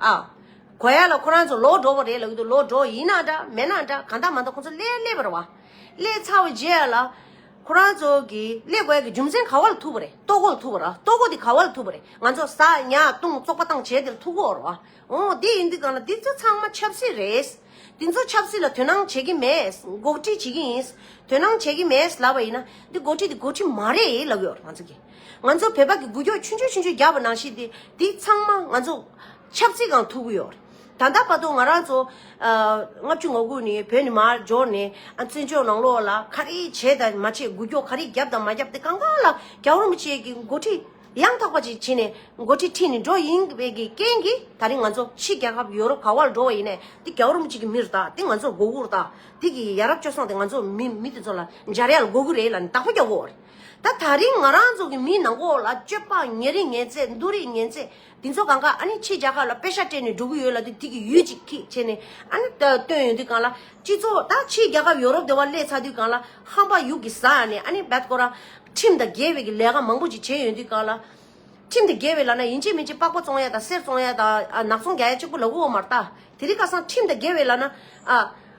ཨ། གོ་ཡ་ལ་ཁོ་རང་ཚོ་ལོག་འགྲོ་བ་རེད་ལབ་ཀྱི་འདུག་ལོག་འགྲོ་ཡིན་ན་འདྲ་མེད་ན་འདྲ་གང་འདྲ་མ་འདྲ་ཁོ་ཚོ་སླེ་སླེ་བར་བ། སླེ་ཚར་བ་རྗེས་ལ། ཁོ་རང་ཚོ་གི་སླེ་དགོས་ཀྱི་རྒྱུ་མཚན་ག་བ་ལ་ཐུག་པ་རེད་ལྟོ་གོ་ལ་ཐུག་པ་ར་ལྟོ་གོ་དེ་ག་བ་ལ་ཐུག་པ་རེད་ང་ཚོ་ཟ་ཉལ་བཏུང་བཙོག་པ་བཏང་བྱས་དེ་ལ་ཐུག་གོ་བར་བ། འོ་དེ་ཡིན་དུས་གང་ལ་འདི་ཚོ་ཚང་མ་ཆབ་སྲིད་རེད། དེ་ཚོ་ཆབ་སྲིད་ལ་དོན་སྣང་བྱེད་ཀྱི་མེད། འགོག་ཁྲིད་བྱེད་ཀྱི་ཡིན། དོན་སྣང་བྱེད་ཀྱི་མེད་ལབ་པ་ཡིན་ན། འདི་འགོག་ཁྲིད་འདི་འགོག་ཁྲིད་མ་རེད་ལབ་ཡོད་ང་ཚོ་གིས། ང་ཚོ་བོད་པ་གི་འགུལ་སྐྱོད་ཆུང་ཆུང་ཆུང་ཆུང་རྒྱག་པ་ནང་བཞིན་དེ་དེ་ཚང་མ་ང་ཚོ། ཆབ་སྲིད་གང་ཐུབ་ཀྱི་ཡོད། ད་ལྟ་བར་དུ་ང་རང་ཚོ། ལྔ་བཅུ་ང་དགུ་ནས་བོད་ནས་མར་འབྱོར་ནས། བཙན་བྱོལ་ནང་ལོགས་ལ་ག་རེ་བྱས་དང་མ་བྱས་འགུལ་སྐྱོད་ག་རེ་བརྒྱབ་དང་མ་བརྒྱབ་དེ་གང་གང་ལ་རྒྱག་རོགས་མི་བྱེད་ཀྱི་འགོ་ཁྲིད། ཡང་དག་པ་ཅིག་བྱས་ནས་འགོ་ཁྲིད་ཁྲིད་ནས་འགྲོ་ཡིན་པའི་རྐྱེན་གྱིས་ད་རིང་ང་ཚོ་ཕྱི་རྒྱལ་ཁབ་ཡོ་རོབ་ག་བར་འགྲོ་བ་ཡིན་ནའི་དེ་རྒྱ་རོམ་གཅིག་གི་མིར་དག་དེ་ང་ཚོར་མགོ་སྒུར་དག་དེ་གི་ཡ་རབས་སྤྱོ་སངས་དེ་ང་ཚོ་མི་མི་དེ་ཚོ་ལ་འཇའ་རེ་ཡ་ལ་མགོ་སྒུར་རེ་ལ་ནི་དག་པ་རྒྱག་དགོས་བ་རེད་ད་ད་རིང་ང་རང་ཚོ་གི་མིའི་ནང་གོ་ལ་སྤྱོད་པ་ངན་རིགས་ངན་ཚད་འདུ་རིགས་ངན་ཚད་དེ་ཚོ་གང་གཱ་ཨ་ནི་ཆེས་རྒྱ་གར་ལ་དཔེ་ཆ་སྤྲད་ནས་འགྲོ་གི་ཡོད་ལ་དེ་ཐིག་གི་ཡུལ་ཅིག་ཁིག་བྱས་ནས་ཨ་ནི་བཏོན་ཡོད་དུས་གང་ལ་སྤྱི་ཚོགས་ད་ཕྱིས་རྒྱ་ཁབ་ཡོ་རོབ་དེ་བ་སླེ་ཚ་དུས་གང་ལ་ཧམ་པ་ཡུག་གི་ཟ་ནས་ཨ་ནི་བད་ཀོ་རང་ཁྲིམས་དང་འགལ་བའི་གི་ལས་ཀ་མང་པོ་ཅིག་བྱས་ཡོད་དུས་གང་ལ། ཁྲིམས་དང་འགལ་བའི་ལ་ན་ཡིན་ཅིག་མིན་ཅིག་པགས་པ་བཙོང་ཡ་དང་གསེར་བཙོང་ཡ་དང་ནག་ཚོང་རྒྱག་ཡ་གཅིག་པུ་ལ་དབུ་བ་མར་བཏགས་དེ་རིགས་ཀ་སང་ཁྲིམས་དང་འགལ་བའི་ལ་ན་ཨ།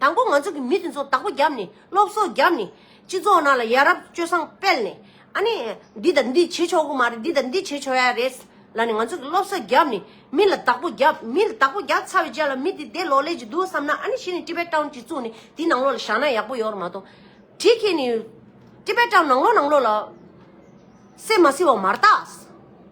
དང་པོ་ང་ཚོ་གི་མི་དེ་ཚོ་བདག་པོ་རྒྱབ་ནས་སློབ་གསོ་རྒྱབ་ནས་སྤྱི་ཚོགས་ནང་ལ་ཡ་རབས་སྤྱོད་བཟང་སྤེལ་ནས་ཨ་ནི་འདི་དང་འདི་བྱེད་ཆོག་གི་མ་རེད་འདི་དང་འདི་བྱེད་ཆོག་ཡ་རེད་ལ་ནི་ང་ཚོ་གི་སློབ་གསོ་རྒྱབ་ནས་མི་ལ་བདག་པོ་རྒྱབ་མི་ལ་བདག་པོ་རྒྱབ་ཚར་བའི་རྗེས་ལ་མི་དེ་དེ་ལོག་ལས་ཀྱི་འདུག་བསམ་ན་ཨ་ནི་གཞི་ནས་ཏི་པེ་ཏའོ་གཅིག་བཙུགས་ནས་དེ་ནང་ལོག་ལ་བཞག་ན་ཡག་པོ་ཡོད་རེད་མ་གཏོགས་དེ་ཁྱེད་ནི་ཏི་པེ་ཏའོ་ནང་ལོག་ནང་ལོག་ལ་སེམས་མ་བསིལ་བ་མ་རྟགས་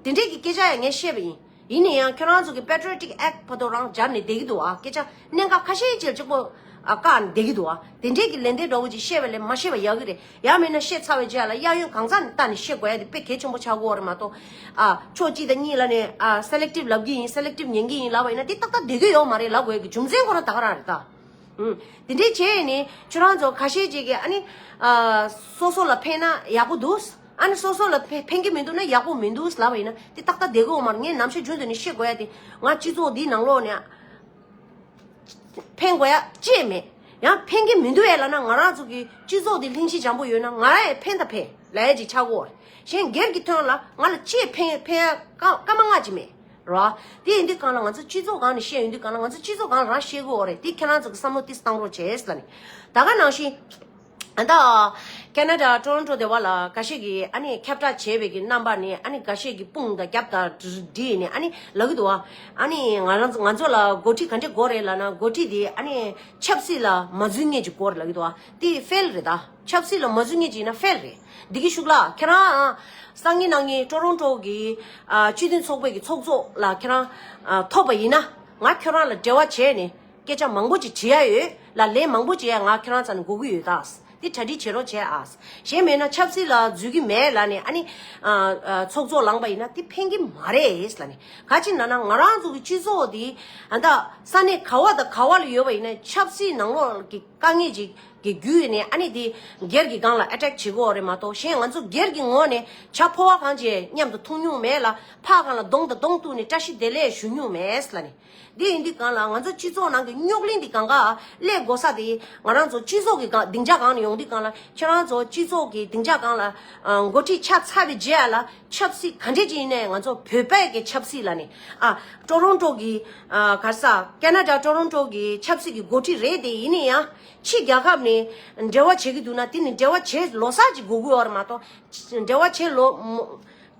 དེ་འདྲས་ཀྱི་སྐད་ཆ་ཡང་ངས་བཤད་པ་ཡིན། ཡིན་ནས་ཡང་ཁྱོད་རང་ཚོ་གི Patriotic Act ཕོ་ཐོག་རང་སྦྱར་ནས་བསྡད་ཀྱི་འདུག་ཨ་སྐད་ཆ་གནད་འགག་ཁ་ཤས་ཆེར་ཆེར་པོ་བཀག་ནས་བསྡད་ཀྱི་འདུག་ཨ་དེ་འདྲས་ཀྱི་ལན་དེ་འདྲ་བོ་ཅིག་ཤེས་པ་ལས་མ་ཤེས་པ་ཡག་གི་རེད་ཡག་མིན་ན་བཤད་ཚར་བའི་རྗེས་ལ་གཡག་གཡོན་གང་ཙམ་བལྟ་ནས་བཤད་དགོས་ཡ་དེ་དཔེ་གལ་ཆེན་པོ་ཆགས་དགོས་བ་རེད་མ་གཏོགས་ཨ་ཕྱོགས་གཅིག་དང་གཉིས་ལ་ནས་ཨ Selective ལབ་ཀྱི་ཡིན Selective ཉན་གྱི་ཡིན་ལབ་པ་ཡིན་ན་དེ་ཏག་ཏག་བསྡད་དགོས་ཡོག་མ་རེད་ལབ་དགོས་ཡ་གི་རྒྱུ་མཚན་ཁོ་རང་དག་རང་རེད་ད། ཧུམ་དེ་འདྲས་བྱས་ནས་ཁྱོད་རང་ཚོ་ཁ་ཤས་ཅིག་གིས་ཨ་ནི་ཨ་སོ་སོ་ལ་ཕན་ན་ཡག་པོ་འདུག། ཨ་ནི་སོ་སོ་ལ་ཕན་གྱི་མི་འདུག་ན་ཡག་པོ་མི་འདུག་ལབ་པ་ཡིན་ན་དེ་ཏག་ཏག་བསྡད་དགོས་མ་རེད་ངས་ནམ་ཞིག་རྒྱུན་དུ་ནས་ཤེས་དགོས་ཡ་དེ་ང་སྤྱི་ཚོགས་འདིའི་ནང་ལོགས་ནས་ཕན་དགོས་ཡ་ཅེས་མེད་ཡང་ཕན་གྱི་མི་འདུག་ཡ་ལ་ན་ང་རང་ཚོ་གི་སྤྱི་ཚོགས་འདི་ལྷིང་ཞི་འཇམ་པོ་ཡོད་ན་ང་རང་ཡང་ཕན་དང་ཕན་ལ་ཡ་ཅིག་ཆགས་དགོས་རེད་གཞན་སྒེར་གྱི་དོན་ལ་ང་ལ་ཅེས་ཕན་ཕན་ཡ་སྐར་མ་ལྔ་ཅིག་མེད་རེད་བ། དེ་ཡིན་དུས་གང་ལ་ང་ཚོ་སྤྱི་ཚོགས་གང་ནས་བཤད་ཡོད་དུས་གང་ལ་ང་ཚོ་སྤྱི་ཚོགས་གང་ལ་རང་ཤེས་དགོས་རེད་དེ་ཁྱེད་རང་ཚོ་གི་བསམ་བློ་དེ་བཏང་རོགས་བྱས་ལ་ནི་ད་ག་ནང་བཞིན། ད་ཨ་ཀ་ན་ཀྲ Toronto སྡེ་བ་ལ་ཀ་ཤས་ཀྱིས་ཨ་ནི་ཁྱབ་བསྒྲགས་བྱས་པའི་ཀྱི་རྣམ་པ་ནི་ཨ་ནི་འགའ་ཤས་ཀྱིས་དཔུང་དང་རྒྱབ་དང་བསྒྲིགས་ནས་ཨ་ནི་ལག་གི་འདུག་ཨ་ཨ་ནི་ང་རང་ང་ཚོ་ལ་འགོ་ཁྲིད་ག་འདྲའི་འགོ་རེད་ལ་ན་འགོ་ཁྲིད་དེ་ཨ་ནི་ཆབ་སྲིད་ལ་མ་བརྫུས་ངེས་ཀྱི་འགོ་རེད་ལག་གི་འདུག་ཨ་དེ་ཧྥལ་རེད་ད་ཆབ་སྲིད་ལ་མ་བརྫུས་ངེས་ཀྱི་ཡིན་ན་ཧྥལ་རེད་འདི་གི་ཤུགས་ལ་ཁྱེད་རང་ཨ་སང་ཉིན་གནངས་ཉིན Toronto གི་ཨ་སྤྱི་མཐུན་ཚོགས་པའི་ཀྱི་ཚོགས་གཙོ་ལ་ཁྱེད་རང་ཨ་ཐོབ་པ་ཡིན་ན་ང་ཁྱོད་རང་ལ་འབྲེལ་བ་བྱས་ནས། སྐད་ཆ་མང་པོ་ཅིག་དྲི་ཡ་ཡོད། ལ་ལས་མང་པོ་བྱས་ཡ་ང་ཁྱེད་རང་ཚ་ནས་སྒུག་གི་ཡོད་ད། དེ་གྲ་སྒྲིག་བྱེད་རོགས་བྱས་ཨ། གཞན་མེད་ན་ཆབ་སྲིད་ལ་འཛུལ་གི་མེད་ལ་ནི་ཨ་ནི། ཚོགས་གཙོ་ལངས་པ་ཡིན་ན་དེ་ཕན་གི་མ་རེད་ལ་ནི། ག་ཅི་ན་ན་ང་རང་ཚོ་གི་སྤྱི་ཚོགས་འདི། ཨ་ད་ས་གནས་ག་བ་དང་ག་བ་ལ་ཡོད་པ་ཡིན་ན་ཆབ་སྲིད་ནང་ལོག་ལ་གི་དཀའ་ངལ་ཅིག་གི་བརྒྱུད་ནས་ཨ་ནི་དེ་སྒེར་གི་སྒང་ལ Attack བྱེད་གོ་རེད་མ་གཏོགས་གཞན་ང་ཚོ་སྒེར་གི་ངོ་ནས་བྱ་ཕོ་བ་གང་བྱས་མཉམ་དུ་འཐུང་མྱོང་མེད་ལ་ཕ་གང་ལ་གདོང་དང་གདོང་གཏུག་ནས་བཀྲ་ཤིས་བདེ་ལེགས་ཞུ་མྱོང་མེད་ལ་ནི། དེ་ཡིན་དུས་གང་ལ་ང་ཚོ་སྤྱི་ཚོགས་ནང་གི་རྙོག་གླེང་འདི་གང་ག་ལས་དགོ་ས་དེ་ང་རང་ཚོ་སྤྱི་ཚོགས་ཀྱི་སྡིངས་ཆ་གང་ནས་ཡོང་དུས་གང་ལ་ཁྱེད་རང་ཚོ་སྤྱི་ཚོགས་ཀྱི་སྡིངས་ཆ་གང་ལ་འགོ་ཁྲིད་ཆགས་ཚར་བའི་རྗེས་ལ་ཆབ་སྲིད་ག་འདྲས་ཀྱི་ཡིན་ནའི་ང་ཚོ་བོད་པས་ཀྱི་ཆབ་སྲིད་ལ་ནི་ཨ་ཀྲོ་རོང་ཀྲོ་གི་གར་ས Canada ཀྲོ་རོང་ཀྲོ་གི་ཆབ་སྲིད་ཀྱི་འགོ་ཁྲིད་རེད་དེ་ཡིན་ནི་ཡང་ཕྱི་རྒྱལ་ཁབ་ནས་འབྲེལ་བ་བྱེད་ཀྱི་འདུག་ན་དེ་ནི་འབྲེལ་བ་བྱེད་ལོ་སར་གྱི་དགོ་དགོས་བར་མ་གཏོགས་འབྲེལ་བ་བྱེད་ལོ་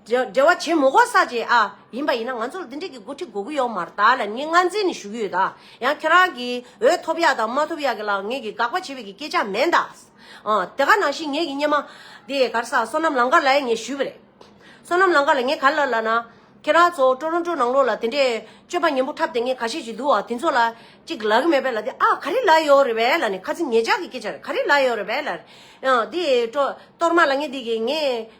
འབྲེལ་བ་བྱེད་མི་དགོས་ས་བཅས་ཨ་ཡིན་པ་ཡིན་ན་ང་ཚོར་འདི་འདྲ་གི་འགོ་ཁྲིད་དགོས་གི་ཡོག་མར་ད་ལ་ངས་ངར་འཛིན་ནི་ཞུ་གི་ཡོད་ད་ཡང་ཁྱོད་རང་གི་འོས་ཐོབ་ཡག་དང་མ་ཐོབ་ཡག་གི་ལ་ངས་གི་དགག་པ་བྱེད་པའི་གི་སྐད་ཆ་མེད་ད། དེ་ག་ནང་བཞིན་ངས་གི་སྙེ་མ། དེ་ཡས་གར་ས་སོ་ནམ་ལང་དཀར་ལ་ཡང་ངས་ཞུས་པ་རེད། སོ་ནམ་ལང་དཀར་ལ་ངས་ག་ལ་ལ་ན། ཁྱེད་རང་ཚོ་ཀྲོ་རོན་ཀྲོ་ནང་ལོག་ལ་དེ་འདྲས་སྤྱོད་པ་ཉན་པོ་འཁྲབ་དེ་ངས་ག་ཤེད་ཅིག་འདུག་ཨ་དེ་ཚོ་ལ་ཅིག་ལ་གི་མེད་པས་ལ་དེ་ཨ་ག་རེ་ལ་ཡོག་རེད་པས་ལ་ནི་ཁ་ཚིག་ངེད་ཅག་གི་སྐད་ཆ་རེད་ག་རེ་ལ་ཡོག་རེད་པས་ལ། དེ་ཡས་ཀྲོ་གཏོར་མ་ལ་ངས་དེ་གི་ངས།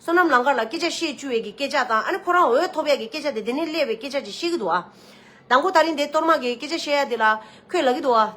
བསོད་ནམས་ལང་དཀར་ལ་སྐད་ཆ་བཤད་བཅུག་ཡས་ཀྱི་སྐད་ཆ་དང་ཨ་ནི་ཁོ་རང་འོས་ཐོབ་ཡས་ཀྱི་སྐད་ཆ་དེ་དེ་ནས་སླེ་བའི་སྐད་ཆ་ཅིག་བཤད་གི་འདུག་ཨ། དང་པོ་ད་རིང་དེ་གཏོར་དམག་གི་སྐད་ཆ་བཤད་ཡས་དེ་ལ་ཁོས་ལ་གི་འདུག་ཨ།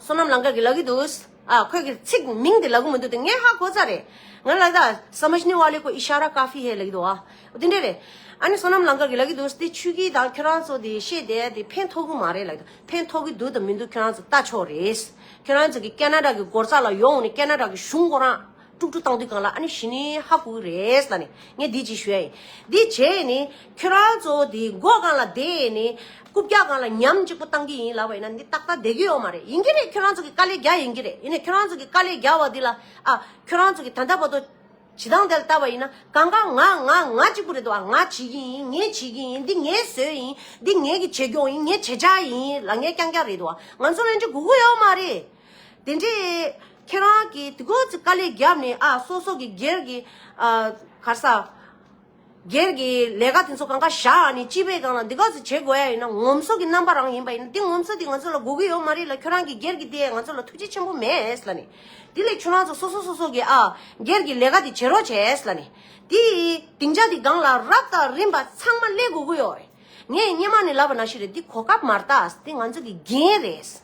བསོད་ནམས་ལང་དཀར་གི་ལ་གི་འདུག་ཨ་ཁོས་ཀྱི་ཚིག་མིང་དེ་ལ་གུ་མི་འདུག་དེ་ངས་ཧ་གོ་ས་རེད། ང་ལ་ད་སམེཇ་ནི་བ་ལེ་ཀོ་ཨི་ཤ་ར་ཀ་ཧྥི་ཧེ་ལ་གི་འདུག་ཨ། དེ་འདྲས་རེད། ཨ་ནི་བསོད་ནམས་ལང་དཀར་གི་ལ་གི་འདུག་དེ་ཆུ་གི་དང་ཁྱོད་རང་ཚོ་དེ་བཤད་དེ་དེ་ཕན་ཐོག་གི་མ་རེད་ལ་གི་འདུག་ཕན་ཐོག་གི་འདུག་དང་མི་འདུག་ཁྱོད་རང་ཚོ་ལྟ་ཆོག་རེད། ཁྱོད་རང་ཚོ་གི་ཀ་ན་ཀྲ་གི་སྒོར་ཙག་ལ་ཡོང་ནི་ཀ་ན་ཀྲ་གི་གཞུང་སྒོ་རང། ཀྲུག་ཀྲུག་བཏང་དུས་གང་ལ་ཨ་ནི་ཞི་ནི་ཧ་གོ་གི་རེད་ཟེར་ནས་ངས་འདི་ཅིག་ཞུ་ཡ་ཡིན། འདི་བྱས་ནས་ཁྱོད་རང་ཚོ་དེ་འགོ་གང་ལ་བསྡད་ནས་རྐུབ་བཀྱག་གང་ལ་ཉམས་གཅིག་པོ་བཏང་གི་ཡིན་ལབ་པ་ཡིན་ན་འདི་ཏག་ཏག་བསྡད་གི་ཡོད་མ་རེད་ཡིན་གྱི་རེད་ཁྱོད་རང་ཚོ་གི་དཀའ་ལས་རྒྱག་ཡིན་གྱི་རེད་ཡིན་ནས་ཁྱོད་རང་ཚོ་གི་དཀའ་ལས་རྒྱག་བ་འདི་ལ་ཨ་ཁྱོད་རང་ཚོ་གི་ད་ལྟ་བར་དུ་བྱེད་སྟངས་དེ་ལ་བལྟ་བ་ཡིན་ན་གང་གང་ང་ང་ང་གཅིག་པོ་རེད་འདུག་ཨ་ང་བྱེད་ཀྱི་ཡིན་ངས་བྱེད་ཀྱི་ཡིན་འདི་ངའི་ཟོལ་ཡིན་འདི་ངའི་གི་བྱེད་སྐྱོང་ཡིན་ངའི་བྱེད་བྱ་ཡིན་ལ་ངའི་རྐྱང་རྐྱང་རེད་འདུག་ཨ་ང་ཚོ་ལན་ཅིག་གོ་གི་ཡོད་མ་རེད། དེ་འདྲས། ཁྱེད་རང་གིས་དེ་ཀོ་ཅི་དཀའ་ལས་བརྒྱབ་ནས་ཨ་སོག་སོག་གི་སྒེར་གྱི། གར་ས། སྒེར་གྱི་ལས་ཀ་དེ་ཚོ་གང་ག་བཞག་ནས་སྤྱི་པའི་སྒང་ལ་འདི་ཀོ་ཅི་བྱེད་དགོས་ཡ་ཡིན་ན་ངོམ་སོ་གི་རྣམ་པ་རང་ཡིན་པ་ཡིན་ན་དེ་ངོམ་སོ་དེ་ང་ཚོ་ལ་དགོས་ཀྱི་ཡོད་མ་རེད་ལ་ཁྱོད་རང་གི་སྒེར་གྱི་དེ་ང་ཚོ་ལ་ཐུགས་རྗེ་ཆེན་པོ་མེད་ལ་ནི། དེ་ལས་ཁྱོད་རང་ཚོ་སོ་སོ་སོ་སོ་གི་ཨ། སྒེར་གྱི་ལས་ཀ་དེ་བྱེད་རོགས་བྱས་ལ་ནི། དེ། དེང་ཆ་དེ་སྒང་ལ་རབ་དང་རིམ་པ་ཚང་མ་སླེབས་དགོས་ཀྱི་ཡོད་རེད། ངས་སྙེ་མ་ནས་ལབ་པ་ན་ཞིག་རེད་དེ་གོ་སྐབས་མར་ཏག་དེ་ང་ཚོ་གི་འགན་རེད།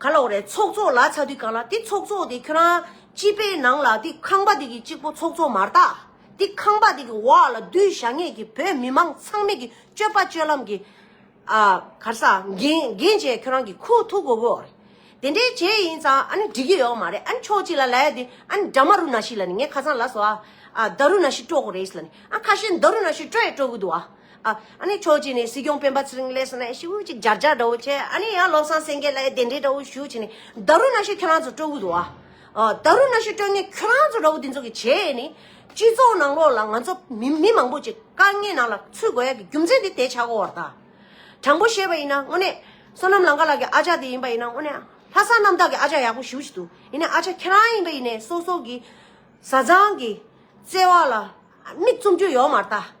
ག་ལོག་རེད་ཚོགས་གཙོ་ལ་ཆ་དུས་གང་ལ་དེ་ཚོགས་གཙོ་དེ་ཁྱོད་རང་སྤྱི་པའི་ནང་ལ་དེ་ཁང་པ་དེ་གི་གཅིག་པོ་ཚོགས་གཙོ་མ་རྟག་དེ་ཁང་པ་དེ་གི་འོག་ལ་སྡུད་བཞག་ངེད་ཀྱི་བོད་མི་མང་ཚང་མེད་ཀྱི་སྤྱོད་པ་སྤྱོད་ལམ་གྱི་ཨ་གར་ས་འགན་འགན་བྱས་ཁྱོད་རང་གི་ཁུ་ཐུག་གོ་བོ་རེད་དེ་འདྲའི་བྱས་ཡིན་ཙང་ཨ་ནི་འགྲིག་གི་ཡོག་མ་རེད་ཨ་ནི་ཕྱོགས་གཅིག་ལ་ལས་དེ་ཨ་ནི་དྲ་མ་རུ་ན་ཤི་ལ་ནི་ངས་ཁ་སང་ལ་སོ་ཨ་ཨ་ད་རུ་ན་ཤི་སྤྲོ་གོ་རེད་ལ་ནི་ཨ་ཁ་ཤས་ད་རུ་ན་ཤི་སྤྲོ་ཡས་སྤྲོ་གི་འདུག་ཨ། ཨ་ནི་ཁྱོད་ཀྱིས་ནི་སྲིད་སྐྱོང་སྤེན་པ་ཚེ་རིང་ལེགས་སོ་ན་ཤིག་ཅིག་སྦྱར་སྦྱར་འདྲ་བོ་བྱས་ཨ་ནི་ཡང་བློ་བཟང་སེང་གེ་ལ་དེ་འདྲའི་འདྲ་བོ་ཞུ་བྱས་ནས་བདག་རུ་ན་ཤོས་ཁྱོད་རང་ཚོ་སྤྲོད་དགོས་འདུག་ཨ་བདག་རུ་ན་ཤོས་སྤྲོད་ངེས་ཁྱོད་རང་ཚོ་འདྲ་བོ་འདི་ཚོ་གི་བྱས་ནས་སྤྱི་ཚོགས་ནང་ལོགས་ལ་ང་ཚོ་མི་མི་མང་པོ་ཅིག་དཀའ་ངལ་ནང་ལ་ཚུད་དགོས་ཡ་གི་རྒྱུ་མཚན་དེ་དེ་བྱ་དགོས་བར་ད་དྲང་པོ་བཤད་པ་ཡིན་ན་དངོས་གནས་བསོད་ནམས་ལང་ཀ་ལགས་ཀྱི་ཨ་ཅག་དེ་ཡིན་པ་ཡིན་ན་དངོས་གནས་ལྷ་ས་རྣམ་དག་གི་ཨ་ཅག་ཡག་པོ་ཞུ་བྱེད་འདུག་ཡིན་ནས་ཨ་ཅག་ཁྱེད་རང་ཡིན་པ་ཡིན་ནས་སོ་སོ་གི་བཟའ་ཚང་གི་བརྩེ་བ་ལ་མིག་བཙུམ་རྒྱུ་ཡོད་མ་ད།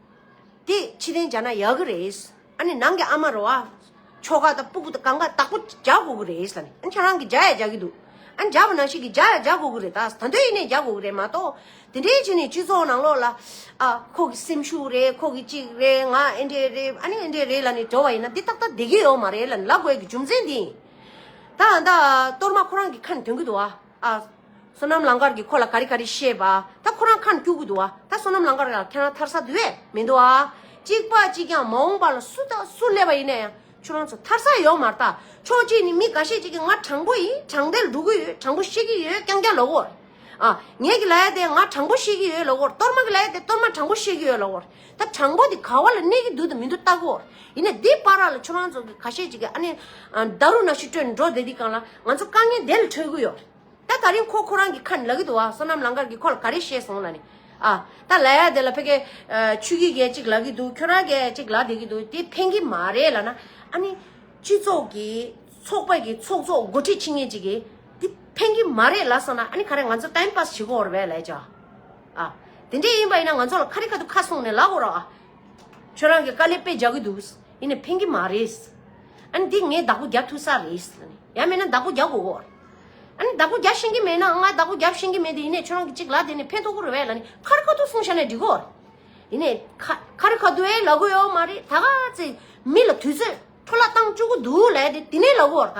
དེ་ཕྱི་གཏན་བྱས་ན་ཡག་གི་རེད། ཨ་ནི་ནང་གི་ཨ་མ་རོ་ཨ། ཁྱོ་ག་དང་སྤུ་གུ་དང་གང་ག་དག་པོ་བརྒྱག་དགོས་གི་རེད། ཨ་ནི་ཁྱེད་རང་གིས་བརྒྱག་ཡ་བརྒྱག་གི་འདུག་ཨ་ནི་བརྒྱག་པ་ནང་བཞིན་གྱིས་བརྒྱག་ཡ་བརྒྱག་དགོས་གི་རེད་ད། ད་འདོད་ཡིན་ནས་བརྒྱག་དགོས་གི་རེད་མ་གཏོགས། དེ་འདྲའི་བྱས་ནས་སྤྱི་ཚོགས་ནང་ལོགས་ལ། ཨ། ཁོ་གི་སེམས་ཤུགས་རེད་ཁོ་གི་ཅིག་རེད་ང་ཨེ་འདྲས་རེད་ཨ་ནི་ཨེ་འདྲས་རེད་ལ་ནི་བྲོ་བ་ཡིན་ན་འདི་ཏག་ཏག་བསྡད་གི་ཡོད་མ་རེད་ལ་ནི་ལ་དགོས་ཀྱི་རྒྱུ་མཚན་འདི་ཡིན། ད་ད། གཏོར་མ་ཁོ་རང་གི་ཁ་ནས་དོན་གྱི་འདུག་ཨ། ཨ། བསོད་ནམས་ལང་དཀར་གྱིས་ཁོ་ལ་ག་རེ་ག་རེ་བཤད་པ་ད་ཁོ་རང་ཁ་ནས་སྐྱུག་གི་འདུག་ཨ། ད་བསོད་ནམས་ལང་དཀར་ལ་ཁྱེད་རང་ཐར་ས་དེ་བས་མི་འདུག་ཨ། གཅིག་པ་གཅིག་ཀྱང་མ་འོངས་པ་ལ་སུ་ད་སུ་སླེབས་པ་ཡིན་ན་ཡང་ཁྱོད་རང་ཚོ་ཐར་ས་ཡོད་མ་རྟགས་ཕྱོགས་གཅིག་ནས་མི་འགའ་ཤས་ཅིག་གིས་ང་དྲང་པོ་ཡིན་དྲང་བདེན་འགྲོ་གི་ཡོད་དྲང་པོ་བཤད་ཀྱི་ཡོད་རྐྱང་རྐྱང་ལ་བོར། ཨ། ངེད་ཀྱི་ལ་ཡ་དེ་ང་དྲང་པོ་བཤད་ཀྱི་ཡོད་ལ་བོར་གཏོར་མ་གི་ལ་ཡ་དེ་གཏོར་མ་དྲང་པོ་བཤད་ཀྱི་ཡོད་ལ་བོར། ད་དྲང་པོ་དེ་ག་བ་ལ་གནས་ཀྱི་འདུག་དང་མི་འདུག་བལྟ་གོ། ཡིན་ནས་འདི་པ་ར་ལ་ཁྱོད་རང་ཚོ་གི་ག་ཤེད་ཅིག་གི་ཨ་ནེ། རྡ་རུ་ན་ཤུ་སྤྲོད་ནས་འགྲོ་བསྡད་དེ་གང་ལ་ང་ཚོ་དཀའ་ངལ་དེ་ལ་འཕྲོད་གི་ཡོད། ད་ད་རིང་ཁོ་ཁོ་རང་གི་ཁ་ནས་ལབ་ཀྱི་འདུག་བ་སོ་ནམ་ལང་ཀར་གྱི་ཁོ་ལ་ག་རེ་བཤད་སོང་ལ་ནི། ཨ། ད་ལ་ཡ་དེ་ལ་ཕེ་ཀེ། ཆུ་གི་གས་ཅིག་ལབ་ཀྱི་འདུག་ཁྱོད་རང་གས་ཅིག་ལབ་བསྡད་ཀྱི་འདུག་དེ་ཕན་གྱི་མ་རེད་ལ་ན། ཨ་ནི། སྤྱི་ཚོགས་ཀྱི། ཚོགས་པ་ཀྱི་ཚོགས་གཙོ་མགོ་ཁྲིད་ཆེ་ངེས་ཅིག་གིས། དེ་ཕན་གྱི་མ་རེད་ལ་སོ་ན་ཨ་ནི་ག་རེ་ང་ཚོ་ཏཱིམ་པཱས་བྱེད་གོ་ར་བས་ལས་ཅོ། ཨ། དེ་འདྲས་ཡིན་པ་ཡིན་ན་ང་ཚོ་ལ་ཁ་རི་ཁ་ཐུག་ཁ་གསུངས་ནས་ལག་འོར་ཨ། ཁྱོད་རང་གི་དཀའ་ལས་སྤེལ་བྱ་གི་འདུག་ཡིན་ནས་ཕན་གི་མ་རེད། ཨ་ནི་འདི་ངས་བདག་པོ་རྒྱབ་ཐུབ་ས་རེད། ཡ་མེད་ན་བདག་པོ་རྒྱག་གོ་འོར། ཨ་ནི་བདག་པོ་རྒྱག་ཤེས་ཀྱི་མེད་ན་ང་བདག་པོ་རྒྱབ་ཤེས་ཀྱི་མེད་དེ་ཡིན་ནས་ཁྱོད་རང་གི་ཅིག་ལག་དེ་ནས་ཕན་ཐོག་གོ་རེ་བས་ལ་ནི་ཁ་རི་ཁ་ཐུག་གསུངས་བྱ་ནས་འགྲིག་གོ་འོར། ཡིན་ནས་ཁ་རི་ཁ་ཐུག་ཨེ་ལག་གོ་ཡོད་མ་རེད་ད་ག་ཚེ་མི་ལ་དུས་ཚོད་འཕྲོ་བརླག་བཏང་བཅུག་གི་འདུག་ལས་དེ་དེ་ནས་ལག་གོ་འོར་ད།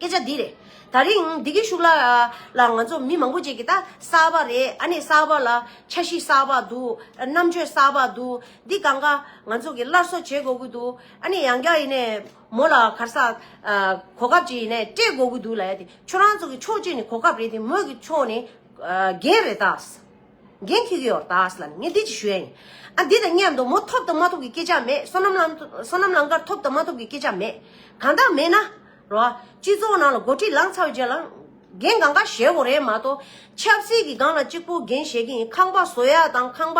སྐད་ཆ་འདི་རེད། ད་རིང་འདི་གི་ཤུགས་ལ་ང་ཚོ་མི་མང་པོ་ཅིག་གིས་ད་གསར་པ་རེད་ཨ་ནི་གསར་པ་ལ་འཆར་གཞི་གསར་པ་འདུག་རྣམ་དཔྱོད་གསར་པ་འདུག་འདི་གང་གཱ་ང་ཚོ་གི་སླར་གསོ་བྱེད་དགོས་ཀྱི་འདུག་ཨ་ནི་ཡང་བསྐྱར་ཡིན་ནས་མོ་ལ་གར་སར་གོ་སྐབས་ཅིག་ཡིན་ནས་སྤྲད་དགོས་ཀྱི་འདུག་ལ་ཡ་དེ་ཁྱོད་རང་ཚོ་གི་ཕྱོགས་གཅིག་ནི་གོ་སྐབས་རེད་དེ་མོ་གི་ཕྱོགས་ནི་རྒན་རེད་ད། འགན་ཁྱེར་གྱི་ཡོད་ད་ཨཱས་ལ་ནི་ངས་བདེ་སྐྱིད་ཞུ་ཡ་ཡིན་ཨ་འདི་དང་གཉའ་མདོ་མོ་ཐོབ་དང་མ་ཐོབ་ཀྱི་སྐད་ཆ་མེད་སོ་ནམ་ལང་སོ་ནམ་ལང་དཀར་ཐོབ་དང་མ་ཐོབ་ཀྱི་སྐད་ཆ་མེད་གང་དག་མེད་ན་རོ་ཨ་སྤྱི་ཚོགས་ནང་ལ་མགོ་ཁྲིད་ལངས་ཚར་བའི་རྗེས་ལ་འགན་གང་ག་བཞེས་དགོས་རེད་མ་གཏོགས་ཆབ་སྲིད་ཀྱི་སྒང་ལ་གཅིག་པོ་འགན་བཞེས་ཀྱི་ཡིན་ཁང་པ་བཟོ་ཡ་དང་ཁང་པ་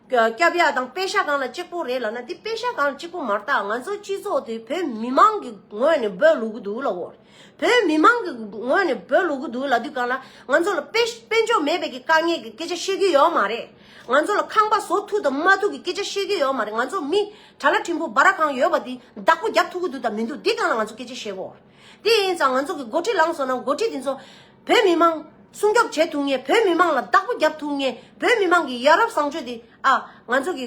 བསྐྱབ་ཡ་དང་དཔེ་ཆ་གང་ལ་གཅིག་པོ་རེད་ལ་ན་འདི་དཔེ་ཆ་གང་ལ་གཅིག་པོ་མ་རྟགས་ང་ཚོ་སྤྱི་ཚོགས་དེ་བོད་མི་མང་གི་ངོས་ནས་འབོད་ལུགས་འདུག་ལ་འོ་རེད། བོད་མི་མང་གི་ངོས་ནས་བོད་ལུགས་དགུ་ལ་དུས་གང་ལ་ང་ཚོ་ལ་དཔེ་དཔེ་འཇོག་མེད་པའི་གི་དཀའ་ངལ་གི་སྐད་ཆ་བཤད་ཀྱི་ཡོད་མ་རེད། ང་ཚོ་ལ་ཁང་པ་བཟོ་ཐུབ་དང་མ་ཐུབ་གི་སྐད་ཆ་བཤད་ཀྱི་ཡོད་མ་རེད་ང་ཚོ་མི་གྲྭ་ལ་ཕྲན་བུ་སྦ་ར་གང་ཡོད་པ་དེ་བདག་པོ་རྒྱབ་ཐུབ་ཀྱི་འདུག་དང་མི་འདུག་དེ་གང་ལ་ང་ཚོ་སྐད་ཆ་བཤད་དགོས། དེ་ཡིན་ཙང་ང་ཚོ་གི་འགོ་ཁྲིད་ལངས་སོང་ན་འགོ་ཁྲིད་དེ་ཚོ་བོད་མི་མང་སྲུང་སྐྱོབ་བྱེད་ཐུབ་ངེས་བོད་མི་མང་ལ་བདག་པོ་རྒྱབ་ཐུབ་ངེས་བོད་མི་མང་གི་ཡ་རབས་བཟང་སྤྱོད་དེ་ཨ་ང་ཚོ་གི་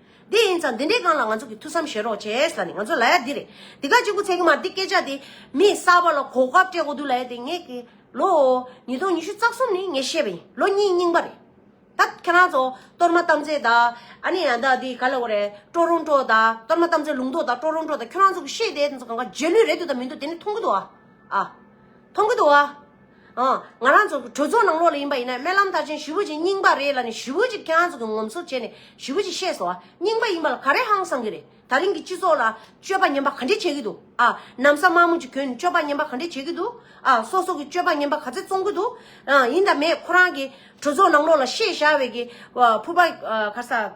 དེ་ཡིན་ཙང་འདི་འདྲའི་སྒང་ལ་ང་ཚོ་གི་ཐུགས་བསམ་བཞེས་རོགས་བྱས་ཟེར་ནས་ང་ཚོ་ལ་ཡ་འདི་རེད་འདི་ག་གཅིག་པུ་ཚད་ཀྱི་མ་རེད་འདི་སྐད་ཆ་དེ་མི་གསར་པ་ལ་གོ་སྐབས་སྤྲད་དགོས་འདུག་ལ་ཡ་དེ་ངས་ཀྱི་ལོ་ཉིས་སྟོང་ཉི་ཤུ་རྩ་གསུམ་ནི་ངས་བཤད་པ་ཡིན་ལོ་གཉིས་རྙིང་པ་རེད་ད་ཁྱེད་རང་ཚོ་གཏོར་མ་བཏབ་མཛད་དང་ཨ་ནི་ཡང་དག་འདི་ག་ལ་འོ་རེད་སྤྲོ་རུང་སྤྲོ་དང་གཏོར་མ་བཏབ་མཛད་ལུང་རྟོགས་དང་སྤྲོ་རུང་སྤྲོ་དང་ཁྱོད་རང་ཚོ་གི་བཤད་དེ་ཚོ་གང་ག་རྗེས་ལུས་རེད་འདུག་དང་མི་འདུག་དེ་ནི་མཐོང་གི་འདུག་ཨ་མཐོང་གི་འདུག་ཨ། ང་རང་ཚོ་གྲོས་ཚོགས་ནང་ལོགས་ལ་ཡིན་པ་ཡིན་ན་སྨན་ལམ་དར་ཅན་ཞི་བུ་ཅིག་རྙིང་པ་རེད་ལ་ནི་ཞི་བུ་ཅིག་ཁྱེད་རང་ཚོ་གི་ངོམ་སོ་བྱས་ནས་ཞི་བུ་ཅིག་བཤད་སོང་ཨ་རྙིང་པ་ཡིན་པ་ལ་ག་རེ་ཧང་སང་གི་རེད་ད་རིང་གི་སྤྱི་ཚོགས་ལ་སྤྱོད་པ་ཉམས་པ་ག་འདྲེ་བྱེད་ཀྱི་འདུག་ཨ་གནམ་ས་དམར་མོ་ཅིག་གྱོན་ནས་སྤྱོད་པ་ཉམས་པ་ག་འདྲེ་བྱེད་ཀྱི་འདུག་ཨ་སོ་སོ་གི་སྤྱོད་པ་ཉམས་པ་ག་ཚད་བཙོང་གི་འདུག་ཨ་ཡིན་ད་མས་ཁོ་རང་གི་གྲོས་ཚོགས་ནང་ལོགས་ལ་བཤད་བཞག་བས་ཀྱི་ཕུར་པ་ག་ས།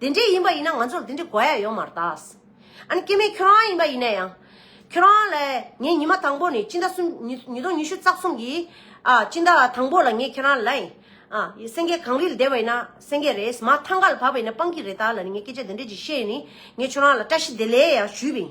དེ་འདྲའི་ཡིན་པ་ཡིན་ན་ང་ཚོར་དེ་འདྲའི་གོ་ཡ་ཡོང་མ་རྟགས། ཨ་ནི་སྐྱེ་མེད་ཁྱོད་རང་ཡིན་པ་ཡིན་ན་ཡང། ཁྱོད་རང་ལ་ངས་ཉི་མ་དང་པོ་ནས་སྤྱི་ཟླ་གསུམ་ཉིས་སྟོང་ཉི་ཤུ་རྩ་གསུམ་གྱི་སྤྱི་ཟླ་དང་པོ་ལ་ངས་ཁྱོད་རང་ལ། སེང་གེ་གངས་རིལ་བདེ་བ་ཡིན་ན་སེང་གེ་རེད་མ་མཐའ་མཁའ་ལ་བབས་པ་ཡིན་ན་སྤང་ཀི་རེད་ད་ལ་ནི་ངས་སྐད་ཆ་དེ་འདྲ་ཅིག་བཤད་ནས་ངས་ཁྱོད་རང་ལ་བཀྲ་ཤིས་བདེ་ལེགས་ཡང་ཞུས་པ་ཡིན།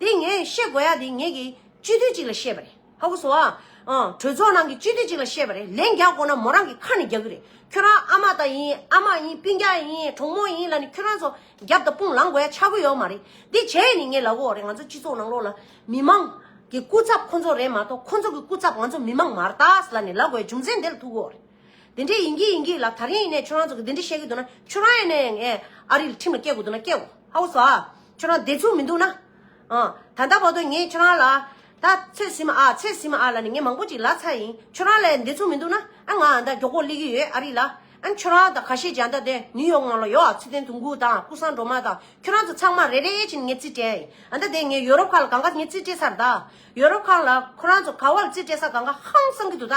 དེ་ངས་བཤད་དགོས་ཡ་དེ་ངེད་ཀྱིས་སྤྱི་འཐུས་གཅིག་ལ་བཤད་པ་རེད་ཧ་གོ་སོང་ཨ། ཨང། གྲོས་ཚོགས་ནང་གི་སྤྱི་འཐུས་གཅིག་ལ་བཤད་པ་རེད་ལན་རྒྱག་དགོས་ན་མོ་རང་གི་ཁ་ནས་རྒྱག་གི་རེད་ཁྱོད་རང་ཨ་མ་ད་ཡིན་ཨ་མ་ཡིན་སྤིན་རྒྱག་ཡིན་གྲོགས་མོ་ཡིན་ལ་ནི་ཁྱོད་རང་ཚོ་རྒྱབ་དང་དཔུང་ལངས་དགོས་ཡ་ཆགས་གི་ཡོད་མ་རེད་དེ་བྱས་ཡས་ནི་ངས་ལ་གོ་རེད་ང་ཚོ་སྤྱི་ཚོགས་ནང་ལོགས་ལ་མི་དམངས་ཀྱི་སྐུ་ཚབ་ཁོང་ཚོ་རེད་མ་གཏོགས་ཁོང་ཚོ་གི་སྐུ་ཚབ་ང་ཚོ་མི་དམངས་མ་ར་ད་ལ་ནི་ལ་གོ་ཡ་རྒྱུ་མཚན་དེ་ལ་ཐུག་གོ་རེད། དེ་འདྲས་ཡིན་གྱི་ཡིན་གྱི་ལགས་ད་རིང་ཡིན་ནས་ཁྱོད་རང་ཚོ་གི་འདི་འདྲས་བཤད་གི་འདུག་ན་ཁྱོད་རང་ཡིན་ནས་ངས་ཨ་རིར་ཁྲིམས་ལ་སྐྱེལ་དགོས་འདུག་ན་སྐྱེལ་གོ་ཧ་བོ་ཟ་ཁྱོད་རང་བདེ་ཚུགས་མི་འདུག་ན་ད་ལྟ་བར་དུ་ངས་ཁྱོད་རང་ལ་ད་ཚོད་ཟིན་མ་ཨ་ཚོད་ཟིན་མ་ཨ་ལ་ནི་ངས་མང་པོ་ཅིག་ལ་ཚ་ཡིན་ཁྱོད་རང་ལས་བདེ་ཚུགས་མི་འདུག་ན་ཨ་ང་ཨ་ད་མགྱོགས་པོ་གླེགས་ཀྱི་ཡོད་ཨ་རི་ལ་ཨ་ཁྱོད་རང་ད་ག་ཤེད་ཀྱི་ཨ་ད་དེ་ནིའུ་ཡོག་ནང་ལ་ཡོད་ཨ་ཚོད་ལྡན་དུ་འགུག་དང་སྐུ་སངས་འགྲོ་མ་དང་ཁྱོད་རང་ཚོ་ཚང་མ་རེ་རེ་བཞིན་ངས་རྩིས་སྤྲད་ཨ་ད་དེ་ངས་ཡོ་རོབ་ཁག་ལ་གང་ག་ངས་རྩིས་སྤྲད་ཚར་ད་ཡོ་རོབ་ཁག་ལ་ཁོ་རང་ཚོ་ག་བ་ལ་རྩིས་སྤྲད་ས་གང་ག་ཧང་སངས་ཀྱི་འདུག་ད།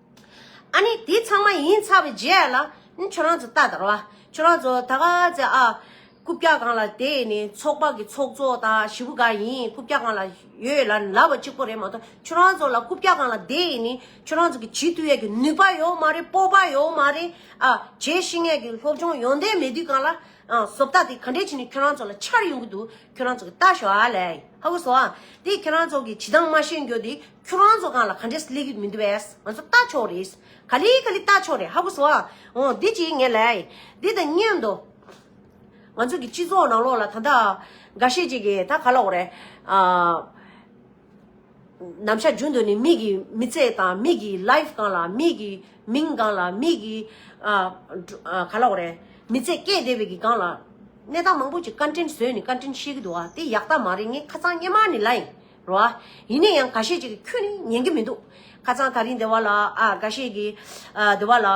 ཨཱ་ནི་དེ་ཚང་མ་ཡིན་ཚར་བའི་རྗེས་ལ། ཁྱོད་རང་ཚོ་ལྟ་དང་ར། ཁྱོད་རང་ཚོ་ད་ག་ཚེ་ཨ། རྐུབ་བཀྱག་གང་ལ་དེ་ནི་ཚོགས་པ་གི་ཚོགས་གཙོ་དང་ཞི་བུ་ག་ཡིན་རྐུབ་བཀྱག་གང་ལ་ཡོད་ལ་ལབ་པ་གཅིག་པོ་རེད་མ་གཏོགས་ཁྱོད་རང་ཚོ་ལ་རྐུབ་བཀྱག་གང་ལ་དེ་ནི་ཁྱོད་རང་ཚོ་གི་བྱེད་ཐུབ་ཡས་ཀྱི་ནུས་པ་ཡོད་མ་རེད་སྤོབས་པ་ཡོད་མ་རེད་ཨ། བྱེད་ཤེས་ངེས་ཀྱི་སློབ་སྦྱོང་ཡོང་དོན་མེད་དུས་གང་ལ། བཟོ་ལྟ་དེ་ག་འདྲས་བྱས་ནས་ཁྱོད་རང་ཚོ་ལ་འཆར་ཡོང་གི་འདུག་ཁྱོད་རང་ཚོ་གི་ལྟ་ཞོག་ཨ་ལས། ཧ་གོ་སོང་ཨ། དེ་ཁྱོད་རང་ཚོ་གི་བྱེད་སྟངས་མ་ཤེས་འགྱོ་དེ། ཁྱོད་རང་ཚོ་གང་ལ་ག་འདྲས་སུ་སླེབས་ཡུལ་མི་འདུག་བས་ང་ཚོ་ལྟ་ཆོག་རེད། ག་ལི་ག་ལི་ལྟ་ཆོག་རེད་ཧ་གོ་སོ། འོ་འདི་ཅིག་ངས་ལས་འདི་དང་གཉེན་དུ། ང་ཚོ་གི་སྤྱི་ཚོགས་ནང་ལོགས་ལ་ད་ལྟ་འགའ་ཤས་ཅིག་གིས་ད་ག་ལ་འོ་རེད། ནམ་ཞག་རྒྱུན་དུ་ནི་མིག་གི་མི་ཚེ་དང་མིག་གི life གང་ལ་མིག་གི་མིང་གང་ལ་མིག་གི་ག་ལ་འོ་རེད། མི་ཚེ་སྐྱེལ་བདེ་བའི་གི་གང་ལ། གནས་སྟངས་མང་པོ་ཅིག་བཀའ་དྲིན་བཟོས་ནི་བཀའ་དྲིན་ཤེས་གི་འདུག་བ་དེ་ཡག་རྟགས་མ་རེད་ངས་ཁ་ཚང་སྙན་མར་ནི་ལ་ཡིན། རོ། ཡིན་ན་ཡང་ག་ཤེད་ཅིག་ཁྱོད་ནི་ཉན་གི་མི་འདུག་ཁ་ཚང་ད་རིང་སྡེ་བ་ལ་ཨ་ག་ཤེད་ཀྱི། སྡེ་བ་ལ་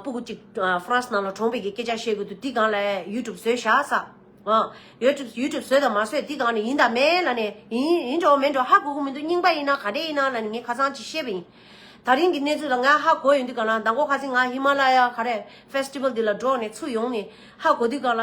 སྤུ་གུ་ཅིག་ཧྥ་རན་སི་ནང་ལ་གྲོངས་པའི་གི་སྐད་ཆ་བཤད་དགོས་འདུག་འདི་གང་ལ་ཡུལ་གྲུབ་བཟོས་བཞག་ས། ཡོལ་གྲུབ་ཡུལ་གྲུབ་བཟོས་དང་མ་བཟོས་འདི་གང་ནས་ཡིན་ད་མས་ལ་ནས་ཡིན་ཡིན་འགྲོ་མེད་འགྲོ་ཧ་གོ་གི་མི་འདུག་རྙིང་པ་ཡིན་ན་ག་འདྲས་ཡིན་ན་ལ་ནས་ངས་ཁ་ཚང་ཅིག་བཤད་པ་ཡིན། ད་རིང་གི་གནས་ཚུལ་ལ་ང་ཧ་གོ་ཡོང་དུས་གང་ལ་ཟླ་མགོ་ཁ་ཚིག་ང་ཧི་མ་ལ་ཡ་ག་རེ Festival འདི་ལ་འགྲོགས་ནས་ཚུར་ཡོང་ནས་ཧ་གོ་དུས་གང་ལ།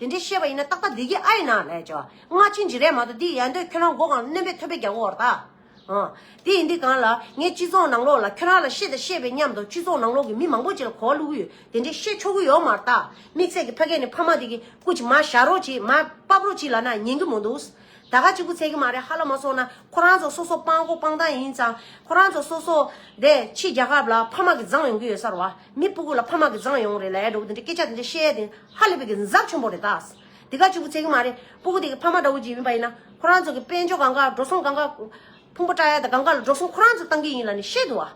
དེ་འདྲའི་ཤེས་པ་ཡིན་ན་ཏག་ཏག་བདེ་སྐྱིད་ཨ་ཡེ་ན་ལས་བྱ། སྔ་ཕྱི་འཇི་རན་མ་གཏོགས་འདི་ཡལ་འདོད་ཁྱོད་རང་མགོ་གང་རྣོན་པས་ཐོད་པའི་རྒྱ་མགོ་བར་བལྟ། དེ་ཡིན་དུས་གང་ལ་ངས་སྤྱི་ཚོགས་ནང་ལོགས་ལ་ཁྱོད་རང་ལ་ཤེས་དང་ཤེས་པའི་ཉམས་དང་སྤྱི་ཚོགས་ནང་ལོགས་ཀྱི་མི་མང་པོ་ཅིག་ལ་གོ་བ་བླུག་གི་ཡོད་དེ་འདྲའི་ཤེས་ཆོག་གི་ཡོད་མར་བལྟ། དམིགས་བསལ་གྱི་ཕ་སྐད་ནི་ཕ་མ་དེ་གི་སྐུ་ཅིག་མ་བཞག་རོགས་ཅིག་མ་དཔབ་རོགས་ཅིག་ལ་ན་ཉན་གི་མོ་འདུག་ད་ག་ཅིག་པུ་ཚད་གི་མ་རེད་ཧ་ལ་མ་སོང་ན་ཁོ་རང་ཚོ་སོ་སོ་སྤང་གོ་སྤང་སྟངས་ཡིན་ཙང་ཁོ་རང་ཚོ་སོ་སོ་དེ་ཕྱི་རྒྱ་ཁབ་ལ་ཕ་མ་གི་བརྫངས་ཡོང་གི་ཡོད་ས་རུ་བ་མི་སྤུ་གུ་ལ་ཕ་མ་གི་བརྫངས་ཡོང་རེད་ལས་འགྲོ་གི་དེ་འདྲའི་སྐད་ཆ་དེ་འདྲ་བཤད་ཡས་དེ། ཧ་ལས་པའི་གི་མཛབ་ཆེན་པོ་རེད་ད། དེ་ག་ཅིག་པུ་ཚད་གི་མ་རེད་སྤུ་གུ་དེ་གི་ཕ་མ་དགྲ་བོ་གྱི་ཡིན་པ་ཡིན་ན། ཁོ་རང་ཚོ་གི་དཔལ་འབྱོར་གང་ག་འགྲོ་སོང་གང་ག། ཕུང་པོ་བཀྲ་ཡ་དང་གང་ག་ལ་འགྲོ་སོང་ཁོ་རང་ཚོ་གཏང་གི་ཡིན་ལ་ནི་ཤེས་འདུག་ཨ།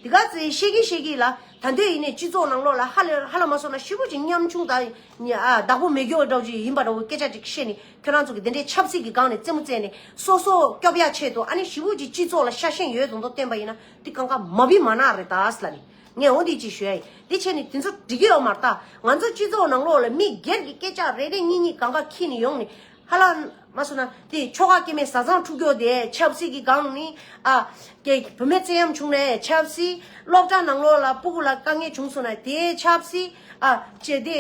དེ་ག་ཚེ་ཤེས་གི་ཤེས་གི་ལ་ད་འདོད་ཡིན་ནས་སྤྱི་ཚོགས་ནང་ལོག་ལ་ཧ་ལས་ཧ་ལ་མ་སོང་ན་ཤི་བོ་གྱི་ཉམ་ཆུང་དང་ནི་ཨ་བདག་པོ་མེད་གྱོ་འདྲ་བོ་གྱི་ཡིན་པ་འདྲ་བོ་སྐད་ཆ་ཅིག་བཤད་ནི་ཁྱོད་རང་ཚོ་གི་དེ་འདྲའི་ཆབ་སྲིད་གི་སྒང་ནས་རྩེད་མོ་རྩེད་ནི་སོ་སོ་སྐྱོབ་ཡ་ཆེད་དུ་ཨ་ནི་ཤི་བོ་གྱི་སྤྱི་ཚོགས་ལ་ཤ་ཞེན་ཡོད་དོ་མདོ་བསྟན་པ་ཡིན་ན་དེ་གང་ག་མ་བི་མ་ནག་རེད་ད་ལ་ནི། ངས་འོ་འདི་ཅི་ཞུ་ཨེ། དེ་བྱས་ནས་དེ་ཚོ་འགྲིག་གི་ཡོད་མ་རྟགས་ང་ཚོ་སྤྱི་ཚོགས་ནང་ལོགས་ལ་མི་སྒེར་གྱི་སྐད་ཆ་རེ་རེ་གཉིས་གཉིས་གང་ག་ཁྱི་ནས་ཡོང་ནས་ཧ་ལ། མ་སོ་ན་དེ་ཆོ་ག་སྐྱེ་མའི་བཟའ་ཚང་འཁྲུག་འཁྱོག་དེས་ཆབ་སྲིད་ཀྱི་སྒང་ནི་ཨ། ཀྱེ་བུ་མོའི་བརྩེ་ཡམ་བྱུང་ནས་ཆབ་སྲིད། སློབ་གྲྭ་ནང་ལོགས་ལ་སྤུ་གུ་ལ་དཀའ་ངལ་བྱུང་སོང་ན་དེས་ཆབ་སྲིད་ཨ། ཀྱེ་དེ་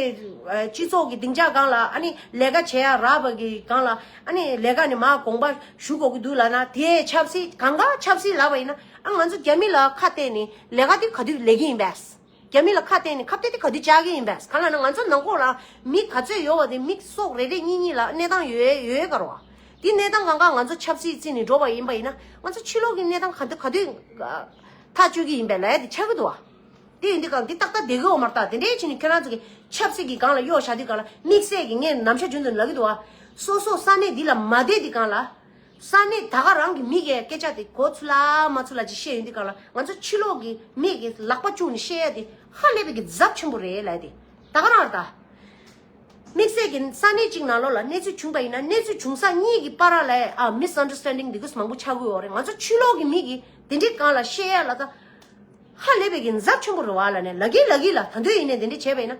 སྤྱི་ཚོགས་ཀྱི་སྡིངས་ཆ་སྒང་ལ་ཨ་ནི་ལས་ཀ་བྱེད་ཡ་རབས་པ་གི་སྒང་ལ་ཨ་ནི་ལས་ཀ་ནི་མ་དགོངས་པ་ཞུ་དགོས་ཀྱི་འདུག་ལ་ན་དེས་ཆབ་སྲིད་གང་ག་ཆབ་སྲིད་ལབ་པ་ཡིན་ན། ཨ་ང་ཚོ་རྒྱ་མི་ལ་ཁ་གཏད་ནས་ལས་ཀ་དེ་ག་དུས་ལས་ཀྱི་ཡིན་པས། རྒྱ་མི་ལ་ཁ་གཏད་ནས་ཁབ་གཏད་དེ་ག་དུས་བཅག་གི་ཡིན་པས་ག་ལ་ན་ང་ཚོ་ནང་ཁོག་ལ་མི་ག་ཚོད་ཡོད་བ་དེ་མི་སོག་རེ་རེ་གཉིས་གཉིས་ལ་གནས་སྟངས་ཡོད་ཡོད་ཡོད་གར་བ། དེ་གནས་སྟངས་གང་ག་ང་ཚོ་ཆབ་སྲིད་བརྩིས་ནས་འགྲོ་བ་ཡིན་པ་ཡིན་ན་ང་ཚོ་ཕྱི་ལོག་གི་གནས་སྟངས་ག་དུས་ག་དུས་ཐག་གཅོད་ཀྱི་ཡིན་པས་ལས་དེ་ཆགས་ཀྱི་འདུག་བ། དེ་ཡིན་དུས་གང་དེ་ཏག་ཏག་བསྡད་ཀྱི་འོག་མར་ཏག་དེ་འདྲའི་ཕྱིན་ནས་ཁྱོད་རང་ཚོ་གི་ཆབ་སྲིད་ཀྱི་སྒང་ལ་གཡོག་བཞག་དུས་གང་ལ་དམིགས་བསལ་གྱི་ངས་ནམ་ཞར་རྒྱུན་དུ་ལབ་ཀྱི་འདུག་བ། སོ་སོ་ས་གནས་འདི་ལ་མ་བསྡད་དུས་གང་ལ། ས་གནས་ད་ག་རང་གི་མི་གའི་སྐད་ཆ་དེ་གོ་ཚུ་ལ་མ་ཚུ་ལ་ཅིག་བཤད་ཡོན་དེ་ག་ལ་ང་ཚོ་ཕྱི་ལོག་གི་མི་གི་ལག་པ་བཅུག་ནས་བཤད་ཡ་དེ་ཧ་ལས་པའི་གི་རྫབ་ཆེན་པོ་རེད་ལ་དེ་ད་ག་རང་ད། དམིགས་བསལ་གི་ས་གནས་ཅིག་ནང་ལོག་ལ་གནས་ཚུལ་བྱུང་པ་ཡིན་ན་གནས་ཚུལ་བྱུང་ས་གཉིས་གི་པ་ར་ལ་ཡ་ཨ Misunderstanding དེ་གུས་མང་པོ་ཆགས་དགོས་འོག་རེད་ང་ཚོ་ཕྱི་ལོག་གི་མི་གི་དེ་འདྲི་གང་ལ་བཤད་ཡ་ལ་ད། ཧ་ལས་པའི་གི་རྫབ་ཆེན་པོ་རེད་བ་ལ་ནས་ལ་གི་ལ་གི་ལ་ད་འདོད་ཡིན་ནས་དེ་འདྲི་བྱས་པ་ཡིན་ན།